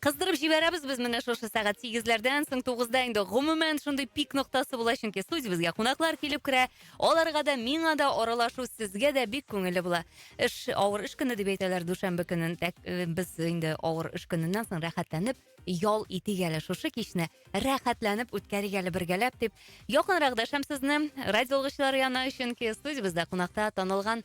Кыздырып җибәрәбез без менә шушы сәгать сигезләрдән соң тугызда инде гомумән шундый пик ноктасы була, чөнки студиябезгә кунаклар килеп керә. Аларга да, миңа да аралашу сезгә дә бик күңелле була. Эш, авыр эш көне дип әйтәләр дүшәмбе көнен. Тәк, э, без инде авыр эш көненнән соң рәхәтләнеп ял итик әле шушы кичне. Рәхәтләнеп үткәрик әле бергәләп дип якынрак дәшәм сезне радио алгычлар янына, чөнки студиябездә кунакта танылган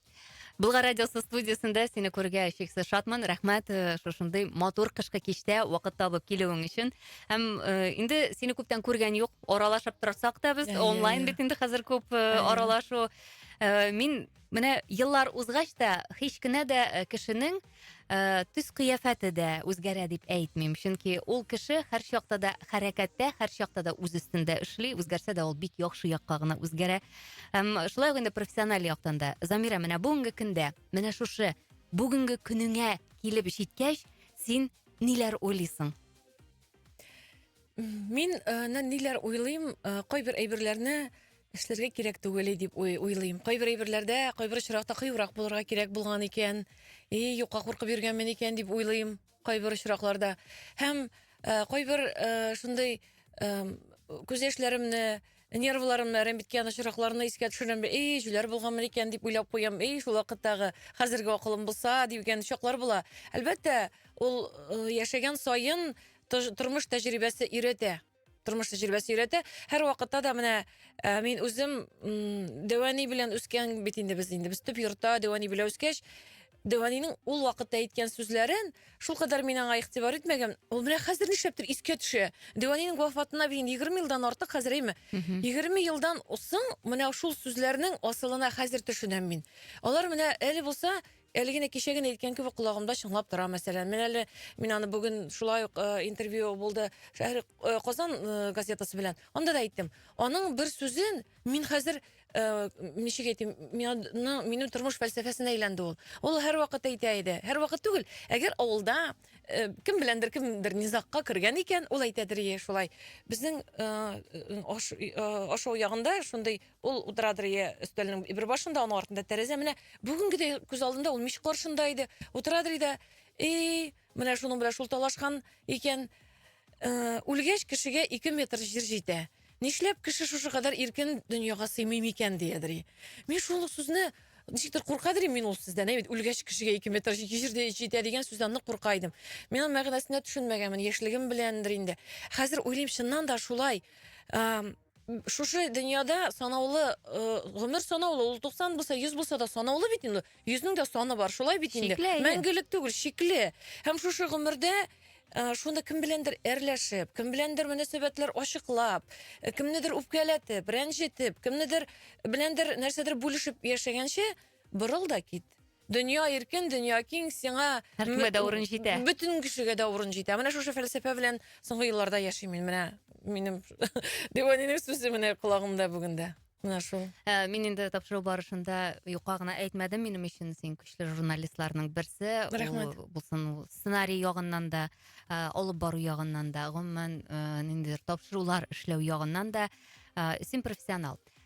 Булгар радиосы студиясендә сине күрергә чиксез шатмын. Рәхмәт э, шушындый матур кышкы кичтә вакыт табып килүең өчен. Һәм э, инде сине күптән күргән юк. Аралашып торсак та без онлайн бит инде хәзер күп э, аралашу. Мин менә еллар узгач та һич кенә дә кешенең Э, төс кыяфәте дә үзгәрә дип әйтмим, чөнки ул кеше һәрчакта да хәрәкәттә, һәрчакта да үз өстендә эшли, үзгәрсә дә ул бик яхшы якка гына үзгәрә. Һәм шулай ук инде профессиональ яктан да. Замира, менә бүгенге көндә, менә шушы бүгенге көнеңә килеп җиткәч, син ниләр уйлыйсың? Мин э, ниләр уйлыйм, э, кайбер әйберләрне Эшләргә кирәк түгел дип уйлыйм. Кайбер әйберләрдә, кайбер очракта кыюрак булырга кирәк булган икән. И, юкка куркып йөргәнмен икән дип уйлыйм. Кайбер очракларда. Һәм э, кайбер э, шундый э, күз яшьләремне, нервларымны әрәмбиткән очракларны искә төшерәм. И, җүләр булганмын икән дип уйлап куям. И, шул вакыттагы хәзерге акылым булса дигән чаклар була. Әлбәттә, ул э, яшәгән саен тормыш тәҗрибәсе өйрәтә. тормыш тәҗрибәсе өйрәтә. Һәр вакытта да менә ә, мин үзем Дәвани белән үскән бит инде без инде. Без төп йортта Дәвани белән үскәч, Дәваниның ул вакытта әйткән сүзләрен шулкадәр мин аңа игътибар итмәгән. Ул менә хәзер нишләптер искә төшә. Дәваниның вафатына бит 20 елдан артык хәзер әйме. 20 елдан соң менә шул сүзләрнең асылына хәзер төшенәм мин. Алар менә әле булса Әле генә кичә генә әйткән кебек колагымда чыңлап тора, мәсәлән. Мин әле мин аны бүген шулай ук э, интервью булды Шәһри э, Казан э, газетасы белән. Анда да әйттем. Аның бер сүзен мин хәзер э, ничек әйтим, минем минем тормыш фәлсәфәсенә әйләнде ул. Ул һәрвакыт әйтә иде. Һәрвакыт түгел. Әгәр авылда э, кем беләндер кемдер низакка кергән икән, ул әйтәдер ие шулай. Безнең э, аш, э, ашау ягында шундый Ул утырадыр я өстәлнең бер башында, аның артында тәрәзә. Менә бүгенгедәй күз алдында ул мич каршында иде. Утырадыр иде. Эй, менә шуның белән шул талашкан икән. Э, үлгәч кешегә 2 метр җир җитә. Нишләп кеше шушы кадәр иркен дөньяга сыймый микән диядер. Мин шул сүзне ничектер куркадыр мин ул сүздән. Әйт, үлгәч кешегә 2 метр җир җитә дигән сүздән нык курка идем. Мин аның мәгънәсенә төшенмәгәнмен, яшьлегем беләндер инде. Хәзер уйлыйм, чыннан да шулай. Э, Шушы дөньяда санаулы э, гомер санаулы, ул 90 булса, 100 булса да санаулы бит инде. 100-нең дә саны бар, шулай бит инде. Шикле, әйе. Мәңгелек түгел, шикле. Һәм шушы гомердә э, шуны кем беләндер әрләшеп, кем беләндер мөнәсәбәтләр ачыклап, э, кемнедер үпкәләтеп, рәнҗетеп, кемнедер беләндер нәрсәдер бүлешеп яшәгәнче борыл да кит. Дөнья иркен, дөнья киң, сиңа Һәркемгә дә урын җитә. Бөтен кешегә дә урын җитә. Менә шушы фәлсәфә белән соңгы елларда яшим мин. Менә минем Диванинең сүзе менә колагымда бүген дә. Менә шул. Ә, мин инде тапшыру барышында юкка гына әйтмәдем, минем өчен син көчле журналистларның берсе. Рәхмәт. Ул булсын ул сценарий ягыннан да, ә, алып бару ягыннан да, гомумән, ә, ниндидер тапшырулар эшләү ягыннан да, ә, син профессионал.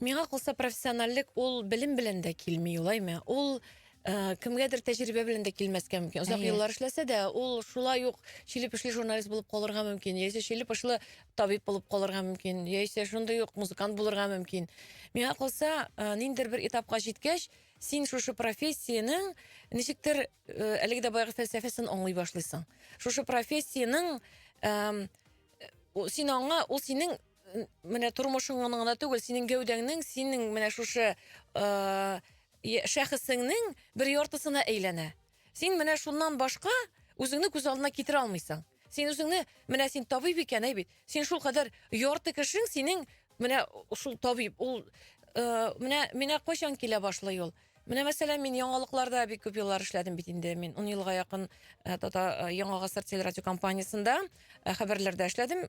Миңа калса профессиональлек ул белем белән дә килми, улаймы? Ул Э, кемгәдер тәҗрибә белән дә килмәскә мөмкин. Озак Әйе. еллар эшләсә дә, ул шулай ук чиле пешле журналист булып калырга мөмкин, яисә чиле пешле табиб булып калырга мөмкин, яисә шундый ук музыкант булырга мөмкин. Миңа калса, э, ниндидер бер этапка җиткәч, син шушы профессиянең ничектер э, әлеге дә баягы фәлсәфәсен аңлый башлыйсың. Шушы профессиянең эм, э, син аңа, ул синең Менә тормышың гына түгел, синең гәүдәңнең, синең менә шушы шәхесеңнең бер яртысына әйләнә. Син менә шуннан башка үзеңне күз алдына китерә алмыйсың. Син үзеңне, менә син табиб икән, әй бит. Син шул кадәр ярты кешең синең менә шул табиб. Ул менә менә кайчан килә башлый ул? Менә мәсәлән, мин яңалыкларда бик күп еллар эшләдем бит инде. Мин 10 елга якын э, Тата э, Яңа гасыр телерадиокомпаниясендә э, хәбәрләрдә эшләдем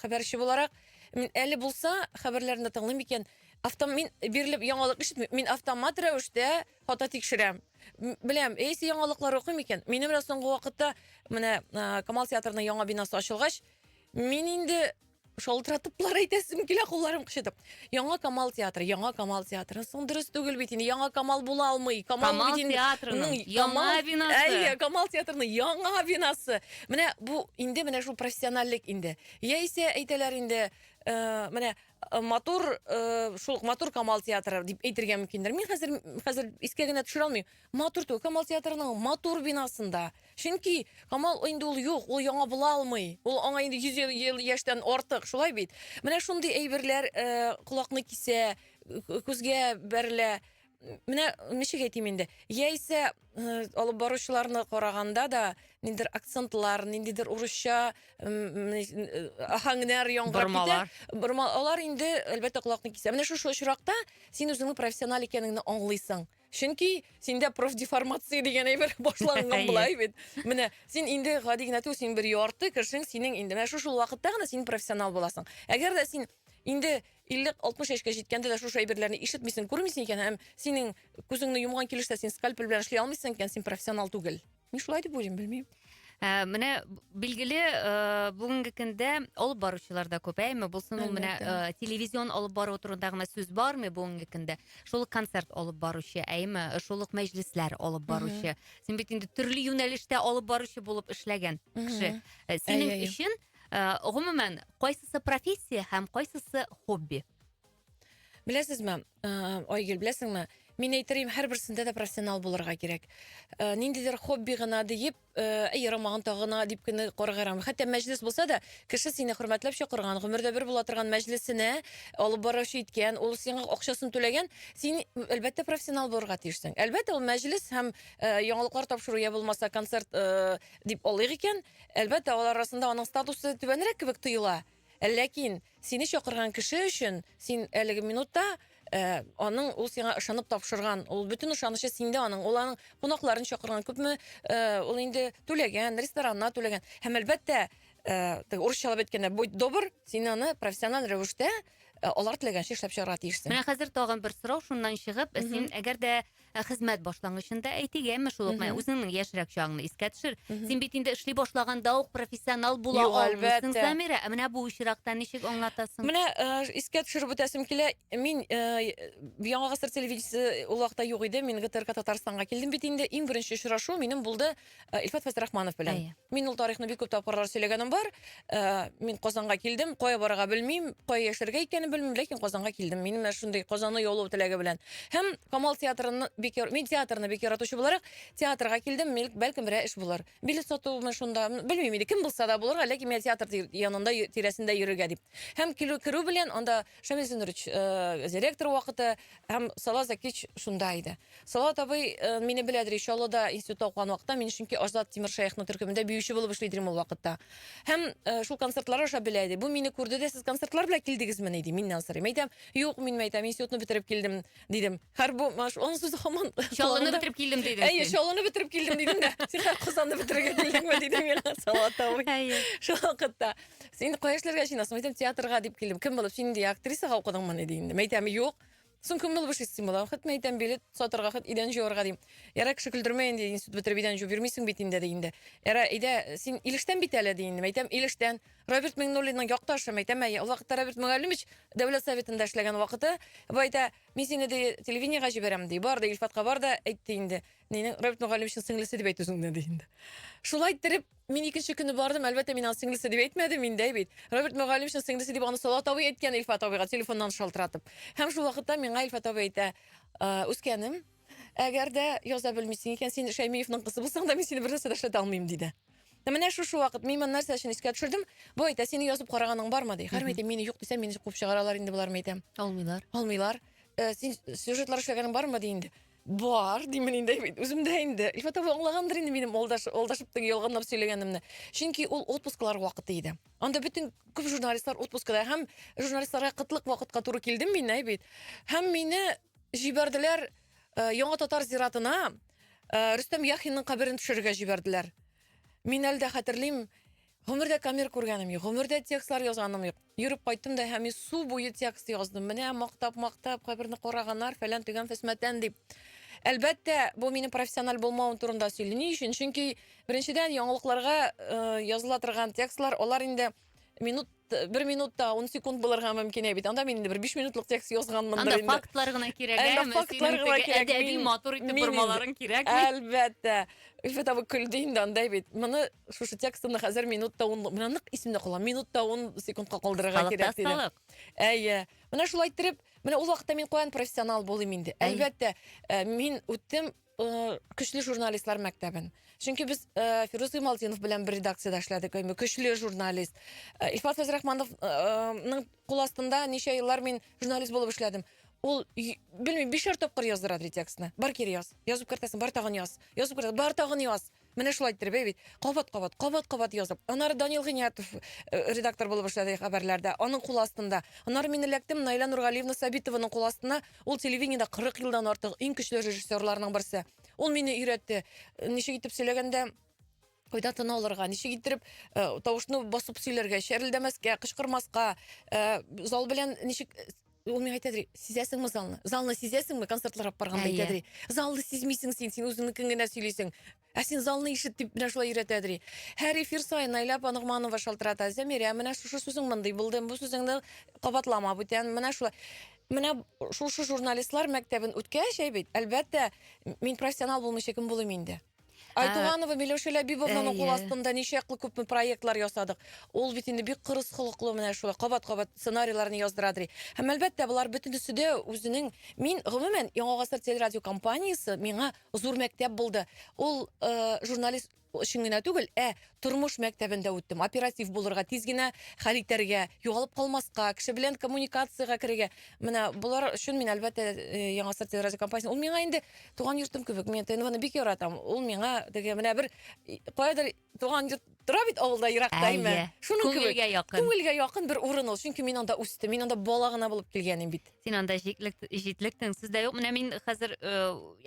хәбәрче буларак. Мин әле булса хәбәрләрне тыңлыйм икән. Автом мин бирелеп яңалык ишетмим. Мин автомат рәвештә фото тикшерәм. Беләм, эйсе яңалыклар укыйм икән. Минем менә соңгы вакытта менә Камал театрының яңа бинасы ачылгач, мин инде шалтыратыплар әйтәсем килә кулларым кычытып яңа камал театры яңа камал театры соң дөрес түгел бит инде яңа камал була алмый камал, камал бит инде театрының яңа бинасы әйе камал театрының яңа бинасы менә бу инде менә шул профессиональлек инде яисә әйтәләр инде ә, менә э, матур ә, шул матур камал театры дип әйтергә мөмкиндер мин хәзер хәзер искә генә төшерә алмыйм матур түгел камал театрының матур бинасында Чөнки Камал инде ул юк, ул яңа була алмый. Ул аңа инде 100 ел, ел яшьтән артык, шулай бит. Менә шундый әйберләр э, колакны кисә, к- күзгә бәрелә. Менә ничек әйтим инде. Яисә э, алып баручыларны караганда да ниндидер акцентлар, ниндидер урысча м, э, аһәңнәр яңгырап китә. Бормалар. Бормалар инде әлбәттә колакны кисә. Менә шушы очракта син үзеңнең профессиональ икәнеңне аңлыйсың. Чөнки синдә профдеформация дигән әйбер башланган була бит. Менә син инде гади генә түгел, син бер ярты кешең синең инде. Менә шушы вакытта гына син профессионал буласың. Әгәр дә син инде 50-60 яшькә җиткәндә дә шушы әйберләрне ишетмисең, күрмисең икән һәм синең күзеңне йомган килеш тә син скальпель белән эшли алмыйсың икән, син профессионал түгел. Мин шулай дип уйлыйм, белмим. Ә, менә билгеле ә, бүгенге көндә алып баручылар да күп әйме булсын ул менә ә, телевизион алып бару турында гына сүз бармы бүгенге көндә шул ук концерт алып баручы әйме шул ук мәҗлесләр алып баручы син бит инде төрле юнәлештә алып баручы булып эшләгән кеше ә, синең өчен ә, гомумән кайсысы профессия һәм кайсысы хобби Беләсезме, Айгөл, беләсеңме, мин әйтерим, һәрберсендә дә профессионал булырга кирәк. Ниндидер хобби гына диеп, әй ярамаган тагына дип кенә карарга ярамый. Хәтта мәҗлес булса да, кеше сине хөрмәтләп чакырган, гомердә бер була торган мәҗлесенә алып баручы иткән, ул сиңа акчасын түләгән, син әлбәттә профессионал булырга тиешсең. Әлбәттә, ул мәҗлес һәм яңалыклар тапшыру я булмаса концерт дип алыйк икән, әлбәттә, алар арасында аның статусы түбәнрәк кебек тоела. Ләкин сине чакырган кеше өчен син әлеге минутта Э, аның ул сиңа ышанып тапшырган ул бөтен ышанычы синдә аның ул аның кунакларын чакырган күпме э, ул инде түләгән ресторанына түләгән һәм әлбәттә э, урысчалап әйткәндә будь добр син аны профессиональ рәвештә алар теләгәнчә эшләп чыгарга тиешсең менә хәзер тагын бер сорау шуннан чыгып син әгәр дә Ә хезмәт башлангычында әйтик, әмма шул ук үзеңнең яшьрәк чагыңны искә төшер. Син бит инде эшли башлаганда ук профессионал була алмыйсың, Замира. Ә менә бу очракта ничек аңлатасың? Менә э, искә төшереп үтәсем килә. Мин э, Яңа гасыр телевидениесе ул вакытта юк иде. Мин ГТРК Татарстанга килдем бит инде. Иң беренче очрашу минем булды Э, Илфат Фәсрахманов белән. Әйе. Мин ул тарихны бик күп тапкырлар сөйләгәнем бар. Э, Мин Казанга килдем, кая барырга белмим, кая яшәргә икәнен белмим, ләкин Казанга килдем. Минем менә шундый Казанны яулау теләге белән. Һәм Камал театрын бик яр- мин театрны бик яратучы буларак театрга килдем. Мил- Бәлкем берәр эш булыр. Билет сатуымы шунда, м, белмим инде, кем булса да булырга, ләкин миңа театр тир- янында й- тирәсендә йөрергә дип. Һәм килү керү белән анда Шамил Зинурович, э, директор вакыты һәм Салаз Закич шунда иде. Салат абый э, мине беләдер иншалла да институтта укыган вакытта, мин чөнки Аждат Тимир Шәехның төркемендә биюче булып эшли идем ул вакытта. Һәм э, шул концертлар аша белә иде. Бу мине күрде дә, сез концертлар белән килдегезмени ди, миннән сорый. Мәйтәм, юк, мин мәйтәм, институтны бетереп килдем. дидем. Хәр бу маш, аның сүзе хаман. Чаллыны бетереп килдем дидем. Әйе, чаллыны бетереп килдем дидем дә. Син хәр Казанны бетерергә килдеңме дидем мин Салат абый. Әйе. Шул вакытта син кая эшләргә җыенасың? Әйтәм, театрга дип килдем. Кем булып син инде актрисага укыдыңмы диде инде. Мәйтәм, юк. Соң кем булып эшлисең була? Хәт мәйтәм, билет сатарга, хәт идән җуарга дим. Яра кеше көлдермә инде, институт бетереп идән җуып йөрмисең бит инде ди инде. Яра, әйдә, син Илештән бит әле ди инде. Мәйтәм, Илештән. Равиль Миңнуллинның якташым әйтәм, ул вакытта Равиль Мөгаллимович дәүләт советында эшләгән вакыты, бу әйтә, мин сине ди телевидениегә җибәрәм ди. Бар да Илфатка бар да әйтте инде. Минем Равиль Мөгаллимовичның сеңлесе дип әйт үзеңне ди инде. Шулай иттереп, мин икенче көнне бардым, әлбәттә, мин аны сеңлесе дип әйтмәдем инде бит. Равиль Мөгаллимовичның сеңлесе дип аны Салат абый әйткән Илфат абыйга телефоннан шалтыратып. Һәм шул вакытта миңа Илфат абый әйтә, «Үскәнем, Әгәр дә яза белмисең икән, син Шәймиевның кызы булсаң да, мин сине бер нәрсә дә эшләтә алмыйм, диде. Ә Менә шушы вакыт мин моны нәрсә өчен искә төшердем? Бу әйтә, сине язып караганың бармы, ди. Хәер, мин әйтәм, мине юк дисәм, мине куып чыгаралар инде болар, мин әйтәм. Алмыйлар. Алмыйлар. Э, Син сюжетлар эшләгәнең бармы, ди инде. Бар, димен инде, әйбит. үзем дә инде. Илфатова аңлагандыр инде минем алдаш, алдашыптың ялганлап сөйләгәнемне. Чөнки ул отпусклар вакыты иде. Анда бөтен күп журналистлар отпускада һәм журналистларга кытлык вакытка туры килдем мин, әйбит. Һәм мине Җибәрделәр э, Яңа татар зиратына э, Рөстәм Яхинның каберен төшерергә җибәрделәр. Мин әле дә хәтерлим, гомердә камер күргәнем юк, гомердә текстлар язганым юк. Йөреп кайттым да һәм су буе текст яздым. Менә мактап-мактап каберне караганнар, фәлән төгән фәсмәтән дип. Әлбәттә, бу минем профессиональ булмавым турында сөйли. Ни өчен? Чөнки беренчедән яңалыкларга э, языла торган текстлар, алар инде минут бер минутта он секунд булырга мөмкин бит анда мин инде бер биш минутлык текст язганмындыр инде анда фактлар гына кирәк әмма фактлар гына кирәк әдәби матур итеп бормаларың кирәк әлбәттә өлфәт абый көлде инде андай бит моны шушы текстны хәзер минутта ун менә нык исемдә кала минутта ун секундка калдырырга кирәк диде әйе менә шулай иттереп менә ул вакытта мин каян профессионал булыйм инде әлбәттә мин үттем Э, көчле журналистлар мәктәбен чөнки без э, фирус ималтдинов белән бер редакциядә эшләдек әйме көчле журналист э, илфат фәзрахмановның кул астында ничә еллар мин журналист булып эшләдем ул белмим бишәр тапкыр яздырады текстны бар кире яз язып кертәсең бар тагын яз язып кертә бар тагын яз Менә шулай иттереп бәй бит. Кабат-кабат, кабат-кабат язып. Аннары Данил Гыйниятов э, редактор булып эшләде хәбәрләрдә. Аның кул астында. Аннары мин эләктем Наилә Нургалиевна Сабитованың кул астына. Ул телевидениедә 40 елдан артык иң көчле режиссерларның берсе. Ул мине өйрәтте. Ничек итеп сөйләгәндә кайда тын алырга, ничек иттереп э, тавышны басып сөйләргә, шәрелдәмәскә, кычкырмаска, э, зал белән ничек ул миңа әйтә ди сизәсеңме залны залны сизәсеңме концертлар алып барганда әйтә ди залны сизмисең син син үзеңнекен генә сөйлисең ә син залны ишет дип менә шулай өйрәтә ди һәр эфир саен наилә апа ногманова шалтырата зәмирә менә шушы сүзең мондый булды бу сүзеңне кабатлама бүтән менә шулай менә шушы журналистлар мәктәбен үткәч әй бит әлбәттә мин профессионал булмыйча кем булыйм инде Айтуганова Миләүшә Ләбибовнаның кул астында ничәкле күпме проектлар ясадык. Ул бит инде бик кырыс холыклы менә шулай кабат-кабат сценарийларны яздыра ди. Һәм әлбәттә, болар бөтенесе дә үзенең мин гомумән Яңа гасыр телерадио компаниясе миңа зур мәктәп булды. Ул э, журналист өчен генә түгел, ә Тормыш мәктәбендә үттем. Оператив булырга, тиз генә хәл итәргә, югалып калмаска, кеше белән коммуникациягә керергә. Менә болар өчен мин, әлбәттә, э, Яңа Старт радиокомпаниясе. Ул миңа инде туган йортым кебек. Мин ТНВны бик яратам. Ул миңа теге менә бер и, каядыр туган йорт тора бит авылда еракта Әйе. име. Шуның кебек. Күңелгә якын. Күңелгә якын бер урын ул. Чөнки мин анда үстем. Мин анда бала гына булып килгән идем бит. Син анда җитлек, җитлектең сүз дә юк. Менә мин хәзер э,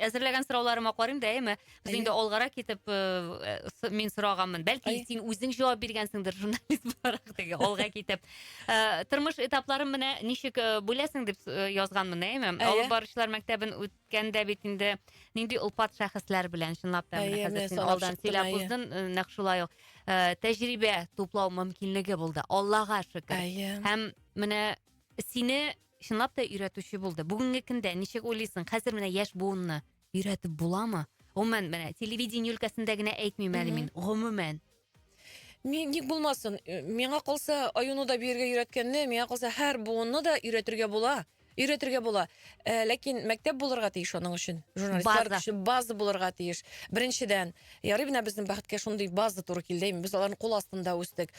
әзерләгән сорауларыма карыйм да, әйме? Без Әйе. инде алгарак китеп э, с- мин сораганмын. Бәлки Әйе. син үзең җавап биргәнсеңдер журналист буларак теге алга китеп. Э, Тормыш этапларын менә ничек э, бүләсең дип э, язганмын, әйме? Әйе. Алып баручылар мәктәбен үткәндә бит инде нинди олпат шәхесләр белән чынлап та Әйе, менә хәзер менә син санап алдан чыктым, сөйләп әйе. уздың, э, нәкъ шулай ук э, тәҗрибә туплау мөмкинлеге булды. Аллага шөкер. Әйе. Һәм менә сине чынлап та өйрәтүче булды бүгенге көндә ничек уйлыйсың хәзер менә яшь буынны өйрәтеп буламы гомумән менә телевидение өлкәсендә генә әйтмим әле мин гомумән ник булмасын э, миңа калса аюны да биергә өйрәткәнне миңа калса һәр буынны да өйрәтергә була өйрәтергә була э, ләкин мәктәп булырга тиеш аның өчен журналистлар база. өчен база булырга тиеш беренчедән Ярый менә безнең бәхеткә шундый база туры килде. Без аларның кул астында үстек.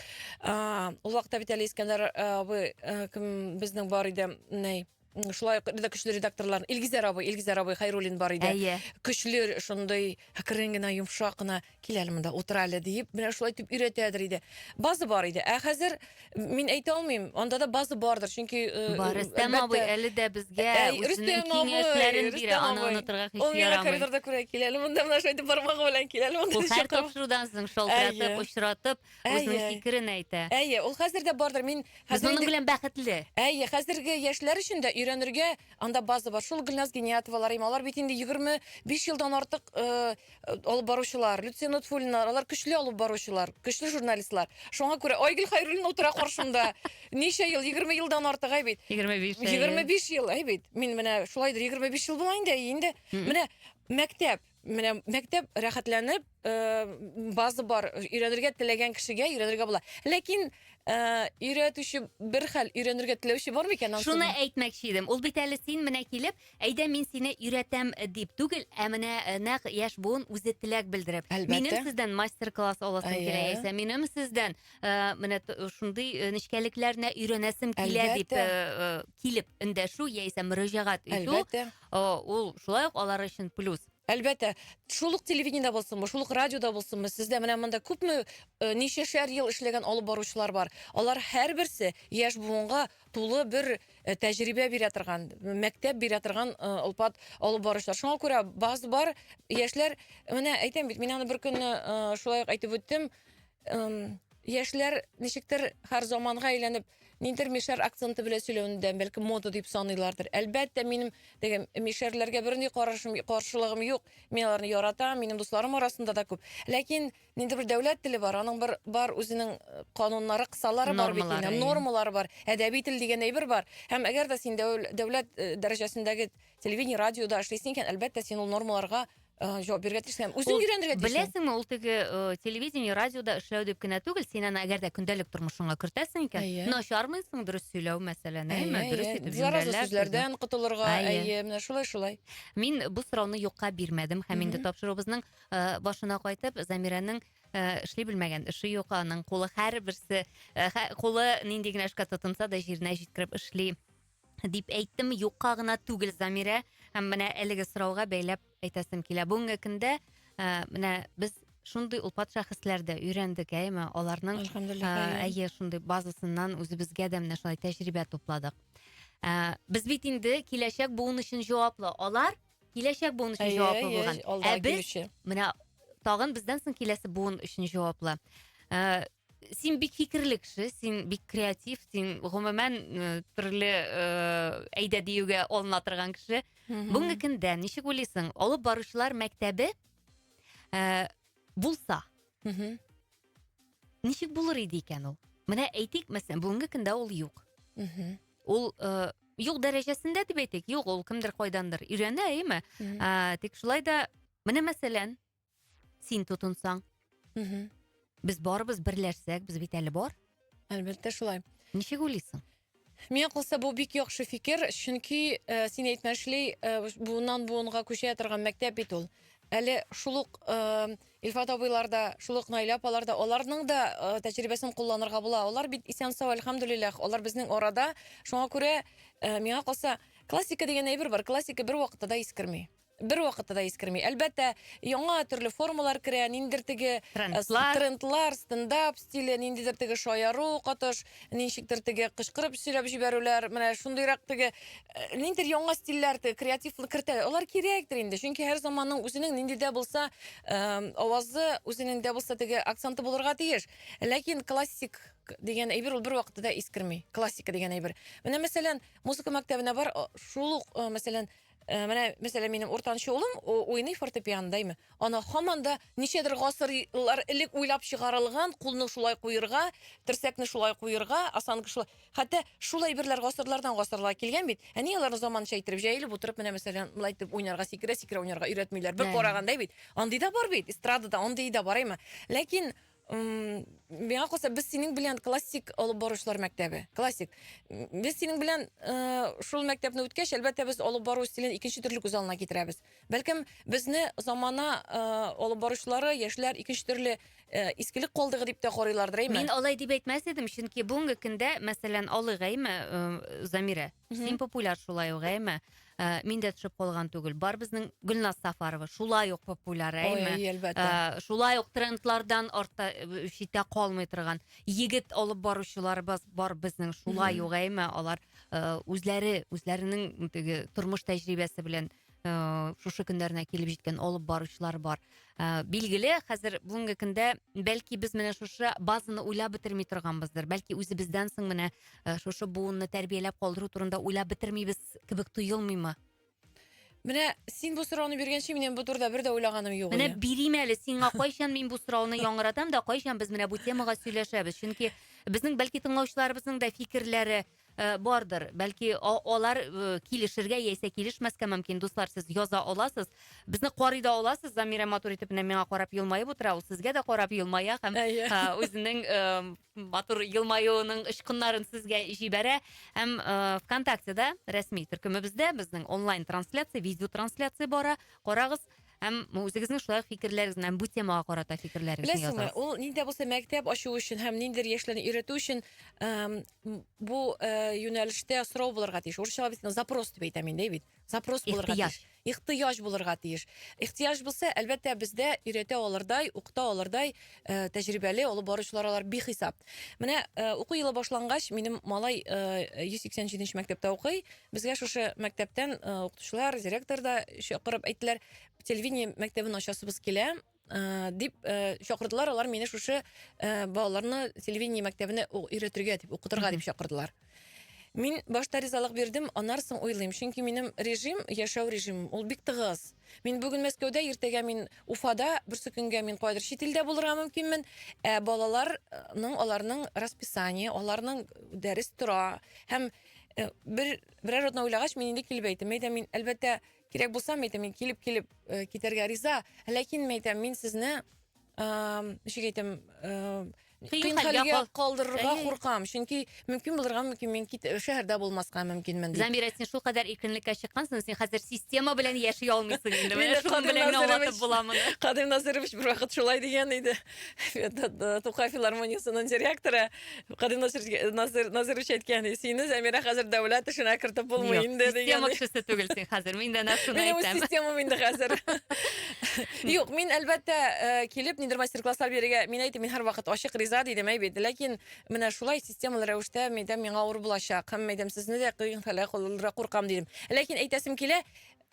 Ул вакытта бит әле Искәндәр абый кем безнең бар иде, ней шулай да көчле редакторлар Илгизәр абый, Илгизәр абый Хайруллин бар иде. Әйе. Көчле шундый әкрен генә, йомшак кына кил әле монда утыр әле диеп, менә шулай дип өйрәтәдер иде. База бар иде. Ә хәзер Мин әйтә алмыйм, анда да база бардыр, чөнки э, Бар, Рөстәм әлбәттә, абый әле дә безгә Әй, үзенең Рөстәм абый, киңәшләрен бирә. Рөстәм Аны абый. онытырга Ул хис миңа ярамый. коридорда күрә килә әле, монда менә шайтып бармагы белән килә әле, монда Ул һәр чакырма. тапшырудан соң шалтыратып, Әйе. очратып, үзенең Әйе. фикерен әйтә. Әйе, ул хәзер дә бардыр. Мин Без хәзер аның инде белән бәхетле. Әйе, хәзерге яшьләр өчен дә өйрәнергә анда база бар. Шул Гөлназ Гениятовалар, им, алар бит инде 25 елдан артык э, алып баручылар, Люция Нутфуллиналар, алар көчле алып баручылар, көчле журналистлар. Шуңа күрә Айгөл Хайруллина утыра каршымда. Ничә ел, 20 елдан артык әй бит. 25 ел. 25 ел әй бит. Мин менә шулайдыр 25 ел була инде, инде. Менә мәктәп, менә мәктәп рәхәтләнеп, э, база бар, өйрәнергә теләгән кешегә өйрәнергә була. Ләкин э, өйрәтүче бер хәл, өйрәнергә теләүче бар микән? Шуны әйтмәкче идем. Ул бит әле син менә килеп, Әйдә мин сине өйрәтәм э, дип түгел, ә менә э, нәкъ яшь буын үзе теләк белдереп. Әлбәттә. Минем сездән мастер-класс аласым Әйе. килә яисә минем сездән э, менә т- шундый э, нечкәлекләрне өйрәнәсем килә дип Әлбәттә. э, э, килеп эндәшү яисә мөрәҗәгать итү Әлбәттә. э, ул шулай ук алар өчен плюс. Әлбәттә, шул ук телевидениедә булсынмы, шул ук радиода булсынмы, сездә менә монда күпме э, ничәшәр ел эшләгән алып баручылар бар. Алар һәрберсе яшь буынга тулы бер э, тәҗрибә бирә торган, мәктәп бирә торган э, олпат алып баручылар. Шуңа күрә баз бар яшьләр, менә әйтәм бит, мин аны бер көнне э, шулай ук әйтеп үттем, эм, яшьләр ничектер һәр заманга әйләнеп, ниндидер мишәр акценты белән сөйләвендән, бәлки мода дип саныйлардыр. Әлбәттә, минем теге мишәрләргә бернинди карашым, каршылыгым юк. Мин аларны яратам, минем дусларым арасында да күп. Ләкин Нинди бер дәүләт теле бар, аның бер бар үзенең э, кануннары, кысалары бар бит Нормалары, инде, иә. нормалары бар, әдәби тел дигән әйбер бар. Һәм әгәр дә син дәүл- дәүләт э, дәрәҗәсендәге телевидение, радиода эшлисең икән, әлбәттә син ул нормаларга э, җавап бирергә тиешсең һәм үзең Ул өйрәнергә тиешсең. Беләсеңме, ул теге э, телевидение, радиода эшләү дип кенә түгел, син аны әгәр дә көндәлек тормышыңа кертәсең икән, Әйе. начармыйсың дөрес сөйләү мәсәлән, әйме, Әйе, дөрес әйе. итеп Зараза җөмләләр төзү. сүзләрдән котылырга, Әйе. әйе, менә шулай-шулай. Мин бу сорауны юкка бирмәдем һәм инде Мгм. тапшыруыбызның Э, башына кайтып замиранең э, эшли белмәгән эше юк аның кулы һәрберсе э, кулы нинди генә эшкә тотынса да җиренә җиткереп эшли дип әйттем юкка гына түгел замирә һәм менә әлеге сорауга бәйләп әйтәсем килә бүгенге көндә менә без шундый олпат шәхесләрдә өйрәндек әйме аларның әйе шундый базасыннан үзебезгә дә менә шулай тәҗрибә тупладык ә, без бит инде киләчәк буын өчен җаваплы алар Киләчәк буын өчен җаваплы булган. Ә без менә тагын бездән соң киләсе буын өчен җаваплы. Ә, син бик фикерле кеше, син бик креатив, син гомумән төрле әйдә диюгә алына торган кеше. Бүгенге көндә ничек уйлыйсың, алып баручылар мәктәбе ә, булса, ничек булыр иде икән ул? Менә әйтик, мәсәлән, бүгенге көндә ул юк. ул э, юк дәрәҗәсендә дип әйтик юк ул кемдер кайдандыр өйрәнә әйеме ә, тик шулай да менә мәсәлән син тотынсаң без барыбыз берләшсәк без бит әле бар әлбәттә шулай ничек уйлыйсың Миңа калса бу бик яхшы фикер, чөнки ә, син әйтмешли, ә, буыннан буынга күчә торган мәктәп бит ул. Әле шул ук ә, Илфат абыйлар да, шул ук Наилә апалар да, аларның да тәҗрибәсен кулланырга була. Алар бит исән-сау, әлхәмдүлилләһ, алар безнең арада. Шуңа күрә, миңа калса, классика дигән әйбер бар, классика бервакытта да искерми. Бервакытта да искерми. Әлбәттә, яңа төрле формалар керә, ниндидер теге трендлар, трендлар стендап стиле, ниндидер теге шаяру, котыш, Ничектер теге кычкырып сөйләп җибәрүләр, менә шундыйрак теге э, ниндидер яңа стильләр, теге креативлы кертәләр. Алар кирәктер инде, чөнки һәр заманның үзенең нинди дә булса э, авазы, үзенең дә булса теге акценты булырга тиеш. Ләкин классик дигән әйбер ул бервакытта да искерми. Классика дигән әйбер. Менә мәсәлән, музыка мәктәбенә бар, о, шул ук, э, мәсәлән, Э, менә мәсәлән минем уртанчы улым уйный фортепианода әйме ана һаман да ничәдер гасырлар элек уйлап чыгарылган кулны шулай куерга терсәкне шулай куерга осанка шулай хәтта шул әйберләр гасырлардан гасырлар килгән бит әни аларны заманча иттереп җәелеп утырып менә мәсәлән мынлай итеп уйнарга сикерә сикерә уйнарга өйрәтмиләр бер караганда бит андый да бар бит эстрадада андый да бар әйме ләкин Миңа калса, без синең белән классик алып баручылар мәктәбе. Классик. Без синең белән э, шул мәктәпне үткәч, әлбәттә, без алып бару стилен икенче төрле күз алдына китерәбез. Бәлкем, безне замана э, алып баручылары, яшьләр икенче төрле э, искелек калдыгы дип тә карыйлардыр, әйме? Мин алай дип әйтмәс идем, чөнки бүгенге көндә, мәсәлән, алыйк, әйме, э, Замирә, син популяр шулай ук, әйме? Ә, мин дә төшеп калган түгел. Бар безнең Гөлназ Сафарова шулай ук популяр, әйме? Ой, әлбәттә. Ә, шулай ук трендлардан артта э, читтә калмый торган егет алып баручыларыбыз бар безнең шулай ук, әйме? Алар э, үзләре, үзләренең теге тормыш тәҗрибәсе белән э, шушы көннәренә килеп җиткән алып баручылар бар. Ә, билгеле, хәзер бүгенге көндә бәлки без менә шушы базаны уйлап бетерми торганбыздыр. Бәлки үзебездән соң менә э, шушы буынны тәрбияләп калдыру турында уйлап бетермибез кебек тоелмыймы? Менә син бу сорауны биргәнче минем бу турыда бер дә уйлаганым юк. Менә бирим әле сиңа кайчан мин бу сорауны яңгыратам да кайчан без менә бу темага сөйләшәбез. Чөнки безнең бәлки тыңлаучыларыбызның да фикерләре э, бардыр. Бәлки алар э, килешергә яисә килешмәскә мөмкин. Дуслар, сез яза аласыз. Безне карый да аласыз. Замира матур итеп менә миңа карап елмаеп утыра. Ул сезгә дә карап елмая һәм э, үзенең матур елмаюының очкыннарын сезгә җибәрә һәм ә, э, вконтактеда рәсми төркемебездә безнең онлайн трансляция видео трансляция бара карагыз һәм үзегезнең шулай фикерләрегезне һәм бу темага карата фикерләрегезне беләсеңме ул нинди булса мәктәп ачу өчен һәм ниндидер яшьләрне өйрәтү өчен бу э, юнәлештә сорау булырга тиеш урысчалап запрос дип әйтәм инде бит Запрос булырга тиеш. Ихтыяҗ булырга тиеш. Ихтыяҗ булса, әлбәттә, бездә өйрәтә алырдай, укыта алырдай э, тәҗрибәле алып баручылар алар бихисап. Менә э, уку елы башлангач, минем малай э, 187 нче мәктәптә укый. Безгә шушы мәктәптән э, укытучылар, директор да чакырып әйттеләр, телевидение мәктәбен ачасыбыз килә. Э, дип э, чакырдылар алар мине шушы э, балаларны телевидение мәктәбенә өйрәтергә дип укытырга дип чакырдылар мин башта ризалык бирдем аннан соң уйлыйм чөнки минем режим яшәү режимым ул бик тыгыз мин бүген мәскәүдә иртәгә мин уфада берсе көнгә мин кайдыр чит илдә булырга мөмкинмен ә балаларның аларның расписание аларның дәрес тора һәм бер берәр атна уйлагач мин инде килеп әйттем әйдә мин әлбәттә кирәк булса мин әйтәм мин килеп килеп э, китәргә риза ләкин мин әйтәм мин сезне ничек әйтәм кыен хәлгә калдырырга куркам чөнки мөмкин булырга мөмкин мин кит шәһәрдә булмаска мөмкинмен дип замира син шулкадәр иркенлеккә чыккансың син хәзер система белән яши алмыйсың инде менә шуның белән аңлатып була моны кадыйм назырович бервакыт шулай дигән иде тукай филармониясенең директоры Кадим Насир Насир Насирович әйткән, сине Замира хәзер дәүләт эшенә кертеп булмый инде дигән. Система кешесе түгел син хәзер. Мин дә нәрсәне әйтәм. Минем системам инде хәзер. Юк, мин әлбәттә э, килеп нидер мастер-класслар бирергә, мин әйтәм, мин һәрвакыт ачык риза дидем әй бит. Ләкин менә шулай системалы рәвештә мәйдәм миңа авыр булачак. Һәм мәйдәм сезне дә кыйнфәлә кулдыра куркам дидем. Ләкин әйтәсем килә,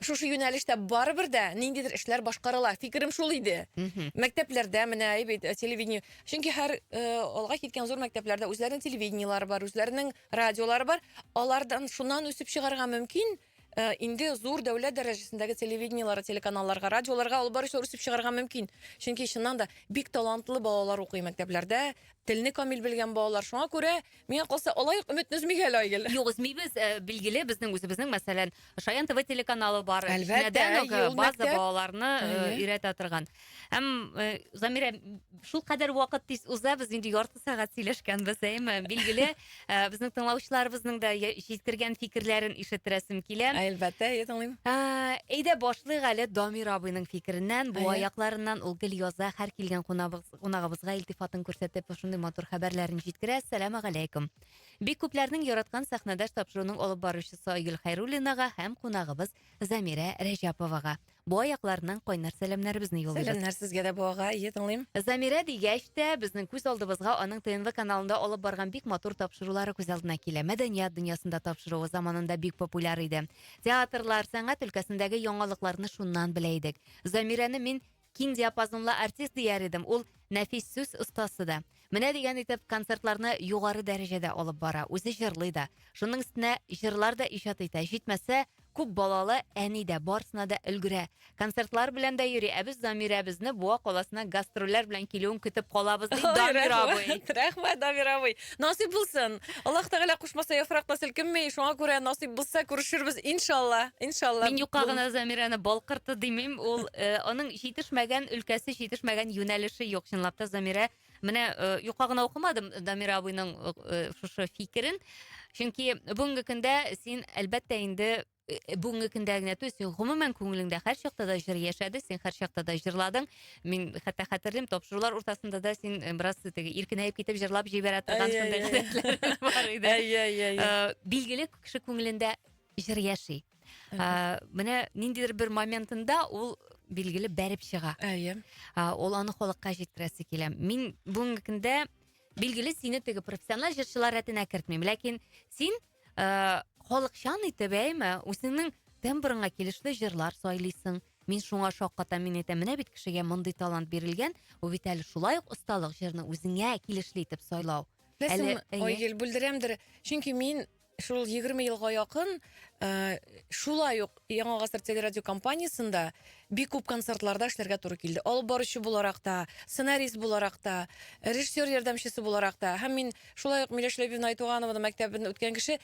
Шушы юнәлештә барыбер дә ниндидер эшләр башкарыла. Фикерем шул иде. Мәктәпләрдә менә әй бит телевидение. Чөнки һәр алга киткән зур мәктәпләрдә үзләренең телевидениелары бар, үзләренең радиолары бар. Алардан шуннан үсеп чыгарга мөмкин. Э, инде зур дәүләт дәрәҗәсендәге телевидениелары, телеканалларга, радиоларга алып баручылар үсеп чыгарга мөмкин. Чөнки чыннан да бик талантлы балалар укый мәктәпләрдә, телне камил белгән балалар. Шуңа күрә Миңа калса, алай ук өметне өзмик әле, Айгөл. Юк, өзмибез. Э, билгеле, безнең үзебезнең, мәсәлән, Шаян ТВ телеканалы бар. Әлбәттә, Кичнәдән үк, э, ел база мәктәп. балаларны э, Әйе. өйрәтә торган. Һәм э, Замирә, шул кадәр вакыт тиз уза, без инде ярты сәгать сөйләшкәнбез, әйме? Билгеле, э, безнең тыңлаучыларыбызның да я- җиткергән фикерләрен ишеттерәсем килә. Әлбәттә, әйе, тыңлыйм. Ә, Әйдә башлыйк әле Дамир абыйның фикереннән, бу Әйе. аякларыннан ул гел яза, һәр килгән кунабыз- кунагыбызга илтифатын күрсәтеп шундый матур хәбәрләрен җиткерә. Сәлам галәйкум. Бик күпләрнең яраткан сәхнәдәш тапшыруның алып баручысы Айгөл Хайруллинага һәм кунагыбыз Замирә Рәҗәповага. Бу аякларыннан кайнар сәламнәребезне юллыйбыз. Сәләмнәр сезгә дә буага, ие тыңлыйм. Замирә дигәч тә, безнең күз алдыбызга аның ТНВ каналында алып барган бик матур тапшырулары күз алдына килә. Мәдәният дөньясында тапшыруы заманында бик популяр иде. Театрлар, сәнгать өлкәсендәге яңалыкларны шуннан белә идек. Замирәне мин Киң диапазонлы артист дияр идем, ул нәфис сүз остасы да. Менә дигән итеп концертларны югары дәрәҗәдә алып бара, үзе җырлый да. Шуның өстенә җырлар да иҗат итә. Җитмәсә, күп балалы әни дә, барысына да өлгерә. Концертлар белән дә йөри, ә без Дамирәбезне Буа каласына гастрольләр белән килүен көтеп калабыз, ди Дамир абый. Рәхмәт, Дамир абый. Насыйп булсын. Аллаһ Тәгалә кушмаса яфрак та селкенми, шуңа күрә насыйп булса күрешербез, иншалла. Иншалла. Мин юкка гына Замирәне балкырты димим. Ул э, аның җитешмәгән өлкәсе, җитешмәгән юнәлеше юк. Чынлап та Замирә менә э, юкка гына укымадым Дамира абыйның э, шушы фикерен. Чөнки бүгенге көндә син әлбәттә инде э, бүгенге көндә генә түгел син гомумән күңелеңдә һәрчакта да җыр яшәде син һәрчакта да җырладың мин хәтта хәтерлим тапшырулар уртасында да син э, бераз теге иркенәеп китеп җырлап җибәрә торган Әй, шундый әй, әй. гадәтләрең бар иде Әй, әй, әй. Э, билгеле кеше күңелендә җыр яши Ә, менә ниндидер бер моментында ул билгеле бәреп чыга Әйе. А, ол аны халыкка җиткерәсе килә мин бүгенге көндә билгеле сине теге профессиональ җырчылар рәтенә кертмим ләкин син Э, халыкчан итеп, әйме, үзеңнең тембрыңа килешле җырлар сайлыйсың. Мин шуңа шаккатам, мин әйтәм, менә бит кешегә мондый талант бирелгән, бу бит әле шулай ук осталык җырны үзеңә килешле итеп сайлау. Әле, әйе. Айгел, бүлдерәмдер. Чөнки мин шул 20 елга якын э, шулай ук Яңа гасыр телерадиокомпаниясендә Бик күп концертларда эшләргә туры килде. Алып баручы буларак та, сценарист буларак та, режиссер ярдәмчесе буларак та. Һәм мин шулай ук Миләш Ләбибовна Айтуганованың мәктәбен үткән кеше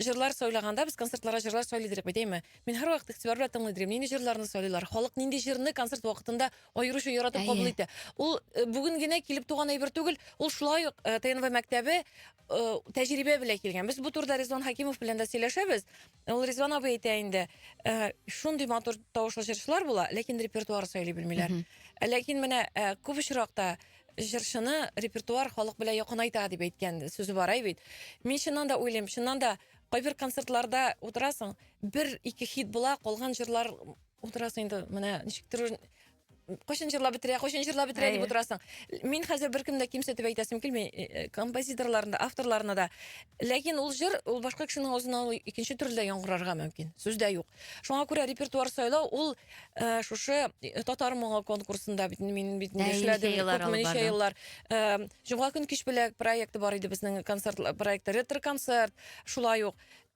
җырлар сайлаганда без концертларга җырлар сайлый идек бит, әйме? Мин һәрвакыт игътибар белән тыңлый идем, нинди җырларны сайлыйлар, халык нинди җырны концерт вакытында аеруча яратып кабул итә. Ул э, бүген генә килеп туган әйбер түгел, ул шулай ук э, ТНВ мәктәбе э, тәҗрибә белән килгән. Без бу турыда Резон Хакимов белән дә сөйләшәбез. Ул Ризван абый әйтә инде, э, шундый матур тавышлы җырчылар була, ләкин репертуар сөйли белмиләр. Мгм. Ә Ләкин менә э, күп очракта җырчыны репертуар халык белән якынайта дип әйткән сүзе бар әй бит. Мин чыннан да уйлыйм, чыннан да кайбер концертларда утырасың, бер ике хит була, калган җырлар утырасың инде менә ничектер кайчан җырлап бетерә, кайчан җырлап бетерә дип Әйе. утырасың. Мин хәзер беркемне дә кимсетеп әйтәсем килми, э, э, композиторларны да, авторларны да. Ләкин ул җыр, ул башка кешенең авызыннан ул икенче төрле дә яңгырарга мөмкин. Сүз дә юк. Шуңа күрә репертуар сайлау ул э, шушы э, татар моңы конкурсында бит мин бит инде Ә, эшләдем ничә еллар күпме алып ничә барды? еллар. Э, Җомга көн кич беләк проекты бар иде безнең концерт проекты ретро концерт, шулай ук.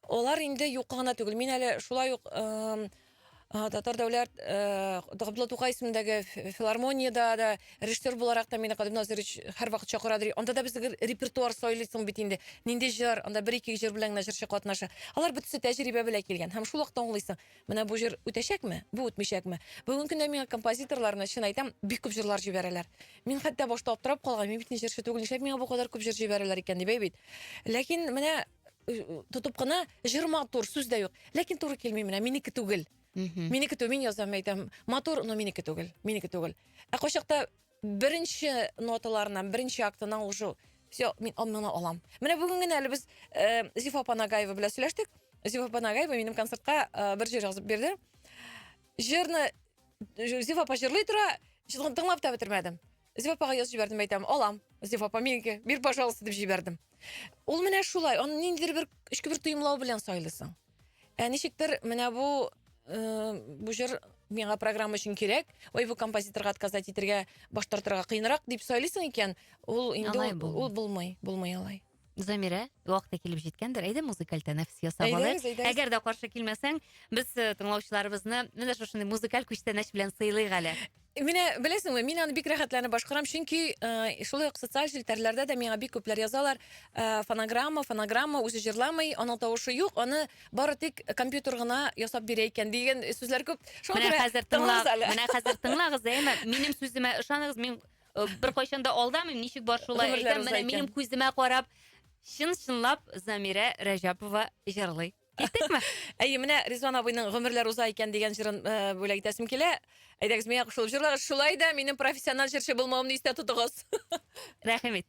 Алар инде юкка гына түгел. Мин әле шулай ук эм, Татар дәүләт Габдулла Тукай исемендәге филармониядә дә режиссер буларак та мине Кадим Назирович һәрвакыт чакыра ди. Анда да без репертуар сайлыйсың бит инде. Нинди җыр, анда бер-ике җыр белән генә җырчы катнаша. Алар бөтесе тәҗрибә белән килгән. Һәм шул вакытта аңлыйсың, менә бу җыр үтәчәкме, бу үтмичәкме. Бүгенге көндә миңа композиторлар, менә чын әйтәм, бик күп җырлар җибәрәләр. Мин хәтта башта аптырап калган, мин бит ни җырчы түгел, нишләп миңа бу кадәр күп җыр җибәрәләр икән дип, әй бит. Ләкин менә тотып кына җыр матур сүз дә юк ләкин туры килми менә минеке түгел минеке түгел мин язам әйтәм матур но минеке түгел минеке түгел ә кайчакта беренче ноталарыннан беренче актынан уже все мин моны алам менә бүген генә әле без э, зифа панагаева белән сөйләштек зифа панагаева минем концертка э, бер җыр язып бирде җырны зифа апа җырлый тора тыңлап та бетермәдем Зифа апага язып җибәрдем, әйтәм, алам. Зифа апа, минеке, бир, пожалуйста, дип җибәрдем. Ул менә шулай, аны ниндидер бер эчке бер тоемлау белән сайлыйсың. Ә ничектер менә бу э, бу җыр миңа программа өчен кирәк, ой, бу композиторга отказать итергә, баш тартырга кыенрак дип сайлыйсың икән, ул инде Алай ул, булмый. ул булмый, булмый алай. Замирә, вакыты килеп җиткәндер. Әйдә музыкаль тәнәфес ясап алыйк. Әйдәгез, әйдәгез. Әгәр дә каршы килмәсәң, без э, тыңлаучыларыбызны менә шушындый музыкаль күчтәнәч белән сыйлыйк әле. Менә беләсеңме, мин аны бик рәхәтләнеп башкарам, чөнки э, шулай ук социаль челтәрләрдә дә миңа бик күпләр язалар, э, фонограмма, фонограмма, үзе җырламый, аның тавышы юк, аны бары тик компьютер гына ясап бирә икән дигән сүзләр күп. Шуңа Менә күрә хәзер тыңлагыз тыңлагыз әле. менә хәзер тыңлагыз, әйме? Минем сүземә ышаныгыз, мин Э, беркайчан да алдамыйм ничек бар шулай әйтәм менә минем күземә карап чын чынлап замирә рәҗәпова җырлый киттекме әйе менә ризван абыйның гомерләр уза икән дигән җырын э, бүләк итәсем килә әйдәгез миңа кушылып җырлагыз шулай да минем профессиональ җырчы булмавымны истә тотыгыз рәхим ит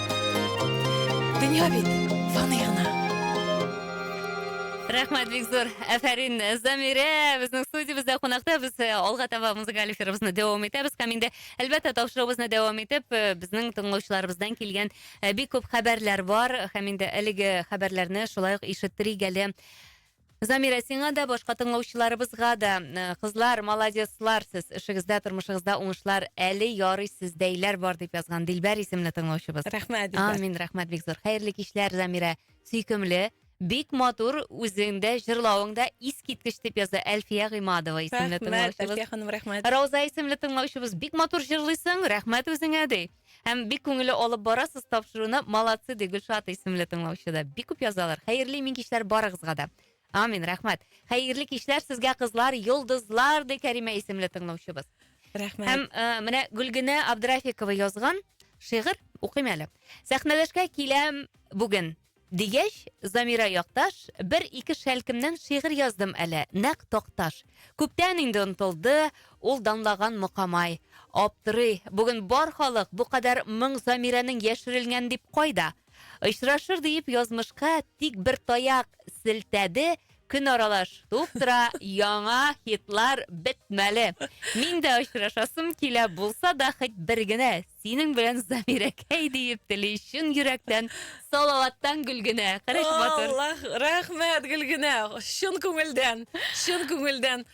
Дөнья бит фани гына. Рәхмәт бик зур. Әфәрин, Замирә безнең студиябездә кунакта. Без э, алга таба музыкаль эфирыбызны дәвам итәбез һәм инде әлбәттә тапшыруыбызны дәвам итеп, э, безнең тыңлаучыларыбыздан килгән э, бик күп хәбәрләр бар һәм инде әлеге хәбәрләрне шулай ук ишеттерик әле. Замира, сиңа да, башка тыңлаучыларыбызга да. Э, кызлар, молодецлар сез. Эшегездә, тормышыгызда уңышлар. Әле ярый сездәйләр бар, дип язган Дилбәр исемле тыңлаучыбыз. Рәхмәт, Дилбәр. Амин, рәхмәт бик зур. Хәерле кичләр, Замира. Сөйкемле. Бик матур үзеңдә җырлавыңда искиткеч дип яза Әлфия Гыймадова исемле тыңлаучыбыз. Рәхмәт, Әлфия ханым, рәхмәт. Рауза исемле тыңлаучыбыз бик матур җырлыйсың, рәхмәт үзеңә ди. Һәм бик күңелле алып барасыз тапшыруны. Молодцы, ди Гөлшат исемле тыңлаучы да. Бик күп язалар. Хәерле имин кичләр барыгызга да. Амин, рәхмәт. Хәерле кичләр сезгә, кызлар, йолдызлар, ди Кәримә исемле тыңлаучыбыз. Рәхмәт. Һәм ә, э, менә Гөлгенә Абдрафикова язган шигырь укыйм әле. Сәхнәләшкә киләм бүген. Дигәч, Замира якташ, бер-ике шәлкемнән шигырь яздым әле, нәкъ Такташ. Күптән инде онтылды ул данлаган Мокамай. Аптырый, бүген бар халык бу кадәр моң Замирәнең яшерелгән дип кайда? Очрашыр диеп язмышка тик бер таяк селтәде, көн аралаш туып тора, яңа хитлар бетмәле. Мин дә очрашасым килә, булса да хоть бер генә Синең белән Замирәкәй диеп тели чын йөрәктән Салаваттан Гөлгенә. Караш матур. Аллах, рәхмәт Гөлгенә. Чын күңелдән, чын күңелдән.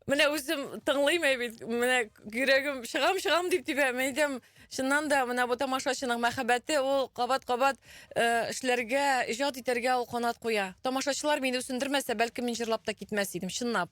Менә үзем тыңлыйм ә бит, менә йөрәгем чыгам, чыгам дип тибә. Мен әйтәм, чыннан да менә бу тамашачының мәхәббәте ул кабат-кабат э, эшләргә, иҗат итәргә ул канат куя. Тамашачылар мине үсендермәсә, бәлкем мин җырлап та китмәс идем, чынлап.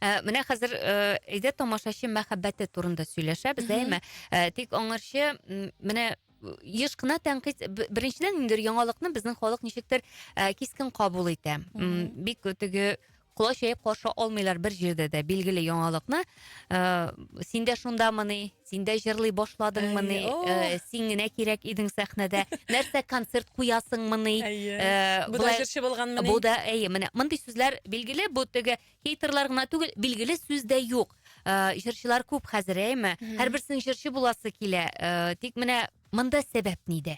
Ә, менә хәзер э, әйдә тамашачы мәхәббәте турында сөйләшәбез, Мгм. әйме? Ә, тик аңарчы м, менә э, еш кына тәнкыйть б- беренчедән инде яңалыкны безнең халык ничектер ә, кискен кабул итә. М, Мгм. Бик теге колач җәеп каршы алмыйлар бер җирдә дә билгеле яңалыкны. Ә, Синдә шундамыни? Син дә җырлый башладыңмыни? Әйе, о! Э, Син генә кирәк идең сәхнәдә. Нәрсә концерт куясыңмыни? Әйе. Э, Бу да болай- җырчы булганмыни? Бу да, әйе, менә мондый сүзләр билгеле, бу теге хейтерлар гына түгел, билгеле сүз дә юк. Э, Җырчылар күп хәзер, әйеме? Һәрберсенең җырчы буласы килә. Э, Тик менә монда сәбәп нидә?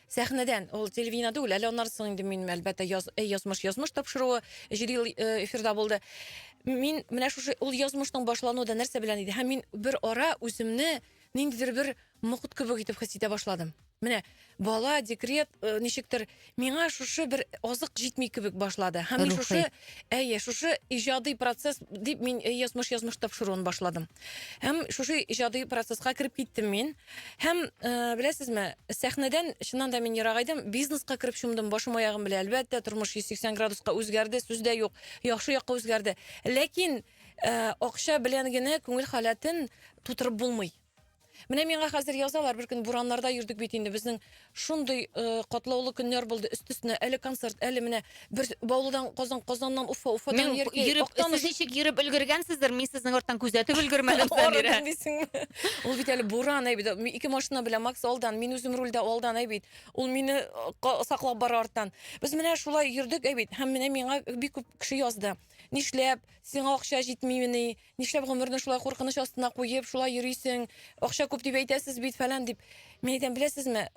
Сәхнәдән, ул телевидение түгел, әле аннары соң инде мин, әлбәттә, яз, эй, язмыш, язмыш тапшыруы җиде ел э, эфирда булды. Мин менә шушы ул язмышның башлануы да нәрсә белән иде? Һәм мин бер ара үземне ниндидер бер мокыт кебек итеп хис итә башладым. Менә бала, декрет, э, ничектер миңа шушы бер азык җитми кебек башлады. Һәм мин Рухи. шушы Әйе, шушы иҗади процесс дип мин э, язмыш язмыш тапшыруын башладым. Һәм шушы иҗади процесска кереп киттем мин. Һәм э, беләсезме, сәхнәдән чыннан да мин ерак идем, бизнеска кереп чумдым, башым аягым белән. Әлбәттә, тормыш 180 градуска үзгәрде, сүз дә юк, яхшы якка үзгәрде. Ләкин э, акча белән генә күңел халәтен тутырып булмый. Менә миңа хәзер язалар, бер көн бураннарда йөрдек бит инде. Безнең шундый э, катлаулы көннәр булды. Өстесенә әле концерт, әле менә бер Баулыдан Казан, Казаннан Уфа, Уфадан Мин Яркәй. йөреп, Актаныш. сез ничек йөреп өлгергәнсездер, мин сезнең арттан күзәтеп өлгермәдем, Самирә. Арыдым дисеңме? Ул бит әле буран әй бит. Ми- Ике машина белән Макс алдан, мин үзем рульдә алдан әй бит. Ул мине э, ка- саклап бара арттан. Без менә шулай йөрдек әй бит. Һәм менә миңа бик күп кеше язды. Нишләп? Сиңа акча җитмимени? Нишләп гомерне шулай куркыныч астына куеп, шулай йөрисең? Акча күп дип әйтәсез бит, фәлән дип. Мин әйтәм, беләсезме,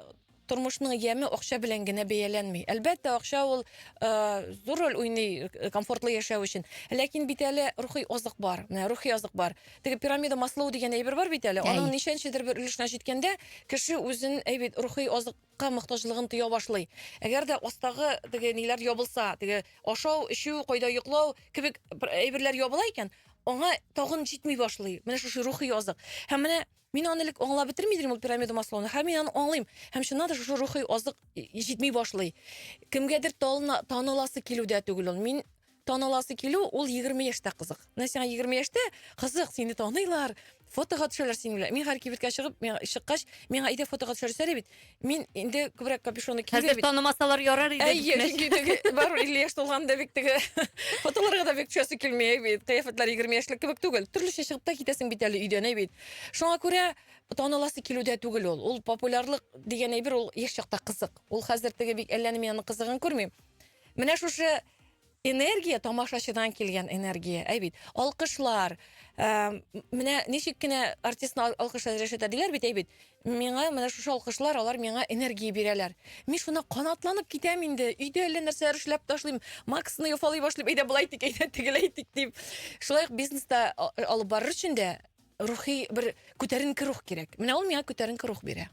тормышның яме акча белән генә бәяләнми. Әлбәттә, акча ул э, зур роль уйный э, комфортлы яшәү өчен. Ләкин бит әле рухи азык бар. Менә рухи азык бар. Теге пирамида маслоу дигән әйбер бар бит әле. Әй. Аның ничәнчедер бер өлешенә җиткәндә, кеше үзен әйбит рухи азык ка мохтаҗлыгын тоя башлый. Әгәр дә астагы теге ниләр ябылса, теге ашау, эчү, кайда йоклау кебек әйберләр ябыла икән, аңа тагын җитми башлый. Менә шушы рухи азык. Һәм менә мин аны элек аңлап бетерми идем ул пирамида маслауны. Һәм мин аны аңлыйм. Һәм чыннан да шушы рухи азык җитми башлый. Кемгәдер талына, таныласы килүдә түгел ул. Мин Таныласы килү ул егерме яшьтә кызык. Менә сиңа егерме яшьтә кызык, сине таныйлар, фотога төшәләр синең белән. Мин хәзер кибеткә чыгып, миңа чыккач, миңа әйдә фотога төшәрсә әле бит. Мин инде күбрәк капюшонны киеп Хәзер бит. танымасалар ярар иде. Әйе, димәс. чөнки теге барыбер 50 яшь тулганда бик теге фотоларга да бик төшәсе килми әй бит. Кыяфәтләр 20 яшьлек кебек түгел. Төрлечә чыгып та китәсең бит әле өйдән әй бит. Шуңа күрә таныласы килү дә түгел ул. Ул популярлык дигән әйбер ул яшь чакта кызык. Ул хәзер теге бик әллә ни мин аның кызыгын күрмим. Менә шушы энергия тамашачыдан килгән энергия әй бит алкышлар ә, менә ничек кенә артистны алкышлар рәшәтә диләр бит әй бит миңа менә шушы алкышлар алар миңа энергия бирәләр мин шуна канатланып китәм инде өйдә әллә нәрсәләр эшләп ташлыйм максны яфалый башлыйм әйдә болай итик әйдә тегеләй итик дип шулай ук бизнеста алып барыр өчен дә рухи бер күтәренке рух кирәк менә ул миңа күтәренке рух бирә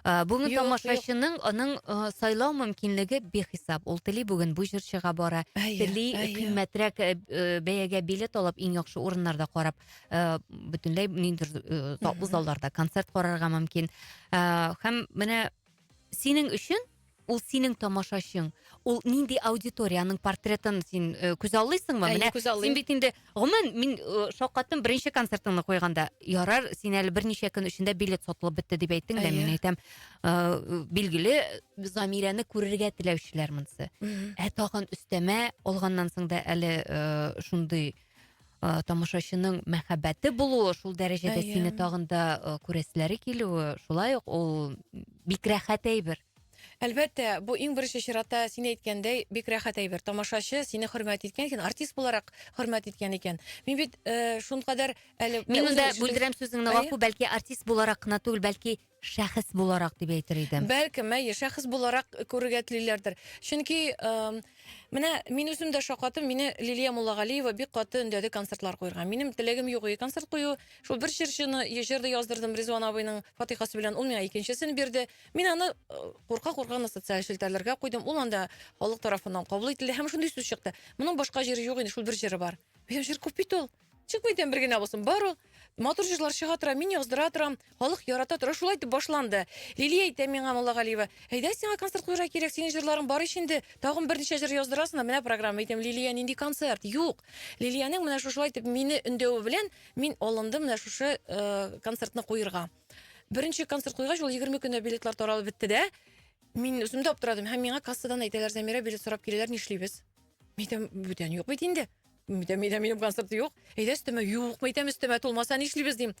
Ә, бүгін тамашашының оның сайлау мөмкинлеге бехисап. Ул тели бүгін бу җырчыга бара, тели кыйммәтрәк бәягә билет алып, иң яхшы урыннарда карап, бөтенләй ниндидер залларда концерт карарга мөмкин. Һәм менә синең өчен ул синең тамашачың ул нинди аудиторияның портретын син э, күз аллыйсыңмы менә күз аллыйм. син бит инде гомумән мин э, шаккаттым беренче концертыңны куйганда ярар син әле берничә көн эчендә билет сатылып бетте дип әйттең дә мин әйтәм э, билгеле замирәне күрергә теләүчеләр монысы ә тагын өстәмә алганнан соң да әле шундый ә, тамашачының мәхәббәте булуы, шул дәрәҗәдә Әйе. сине тагын да ә, күрәселәре килүе, шулай ук ул бик рәхәт әйбер. Әлбәттә, бу иң беренче чиратта син әйткәндәй бик рәхәт әйбер. Тамашачы сине хөрмәт иткән икән, артист буларак хөрмәт иткән икән. Мин бит э, шункадәр әле Мин үзем монда өчен- бүлдерәм сүзеңне, Әйе. гафу, бәлки артист буларак кына түгел, бәлки шәхес буларак дип әйтер идем. Бәлкем, әйе, шәхес буларак күрергә телиләрдер. Чөнки эм, менә мин үзем дә шакатым, мине Лилия Муллагалиева бик каты өндәде концертлар куярга. Минем теләгем юк и концерт кую. Шул бер җырчыны е- җыр да яздырдым Ризван абыйның фатихасы белән, ул миңа икенчесен бирде. Мин аны курка-курка гына социаль челтәрләргә куйдым. Ул анда халык тарафыннан кабул ителде һәм шундый сүз чыкты. Моның башка җыры юк инде, шул бер җыры бар. Минем җыр күп бит ул. Чыкмый икән бер генә булсын. Бар ул матур җырлар чыга тора, мин яздыра торам, халык ярата тора. Шулай итеп башланды. Лилия әйтә миңа Муллагалиева, әйдә сиңа концерт куярга кирәк, синең җырларың бар ич инде, тагын берничә җыр яздырасың да менә программа. Әйтәм, Лилия, нинди концерт? Юк. Лилиянең менә шушылай итеп мине өндәве белән мин алындым менә шушы э, концертны куерга. Беренче концерт куйгач, ул 20 көндә билетлар таралып бетте дә. Мин үзем дә аптырадым һәм миңа кассадан әйтәләр, Замира билет сорап киләләр, нишлибез? Мин әйтәм, бүтән юк бит инде. Әйтәм, әйтәм, минем концерты юк. Әйдә өстемә, юк, әйтәм, өстемә тулмаса нишлибез дим.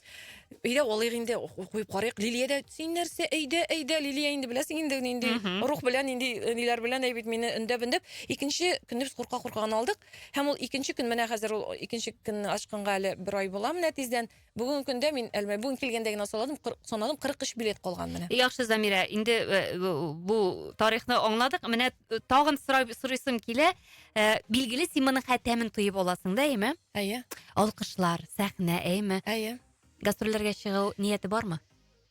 Әйдә алыйк инде, куеп карыйк. Лилия дә син нәрсә, әйдә, әйдә, Лилия инде беләсең инде нинди рух белән, нинди э, ниләр белән әй бит мине өндәп өндәп. Икенче көнне без курка курка гына алдык. Һәм ул икенче көн менә хәзер ул икенче көнне ачканга әле бер ай була менә тиздән. Бүгенге көндә мин әлмә бүген килгәндә генә санадым, санадым 43 билет калган менә. Яхшы Замира, инде э, бу тарихны аңладык. Менә э, тагын сорап сорыйсым килә. Э, билгеле син моның хәтәмен тоеп аласың да, әйме? Әйе. Алкышлар, сәхнә, әйме? Әйе. Гастрольләргә чыгу нияте бармы?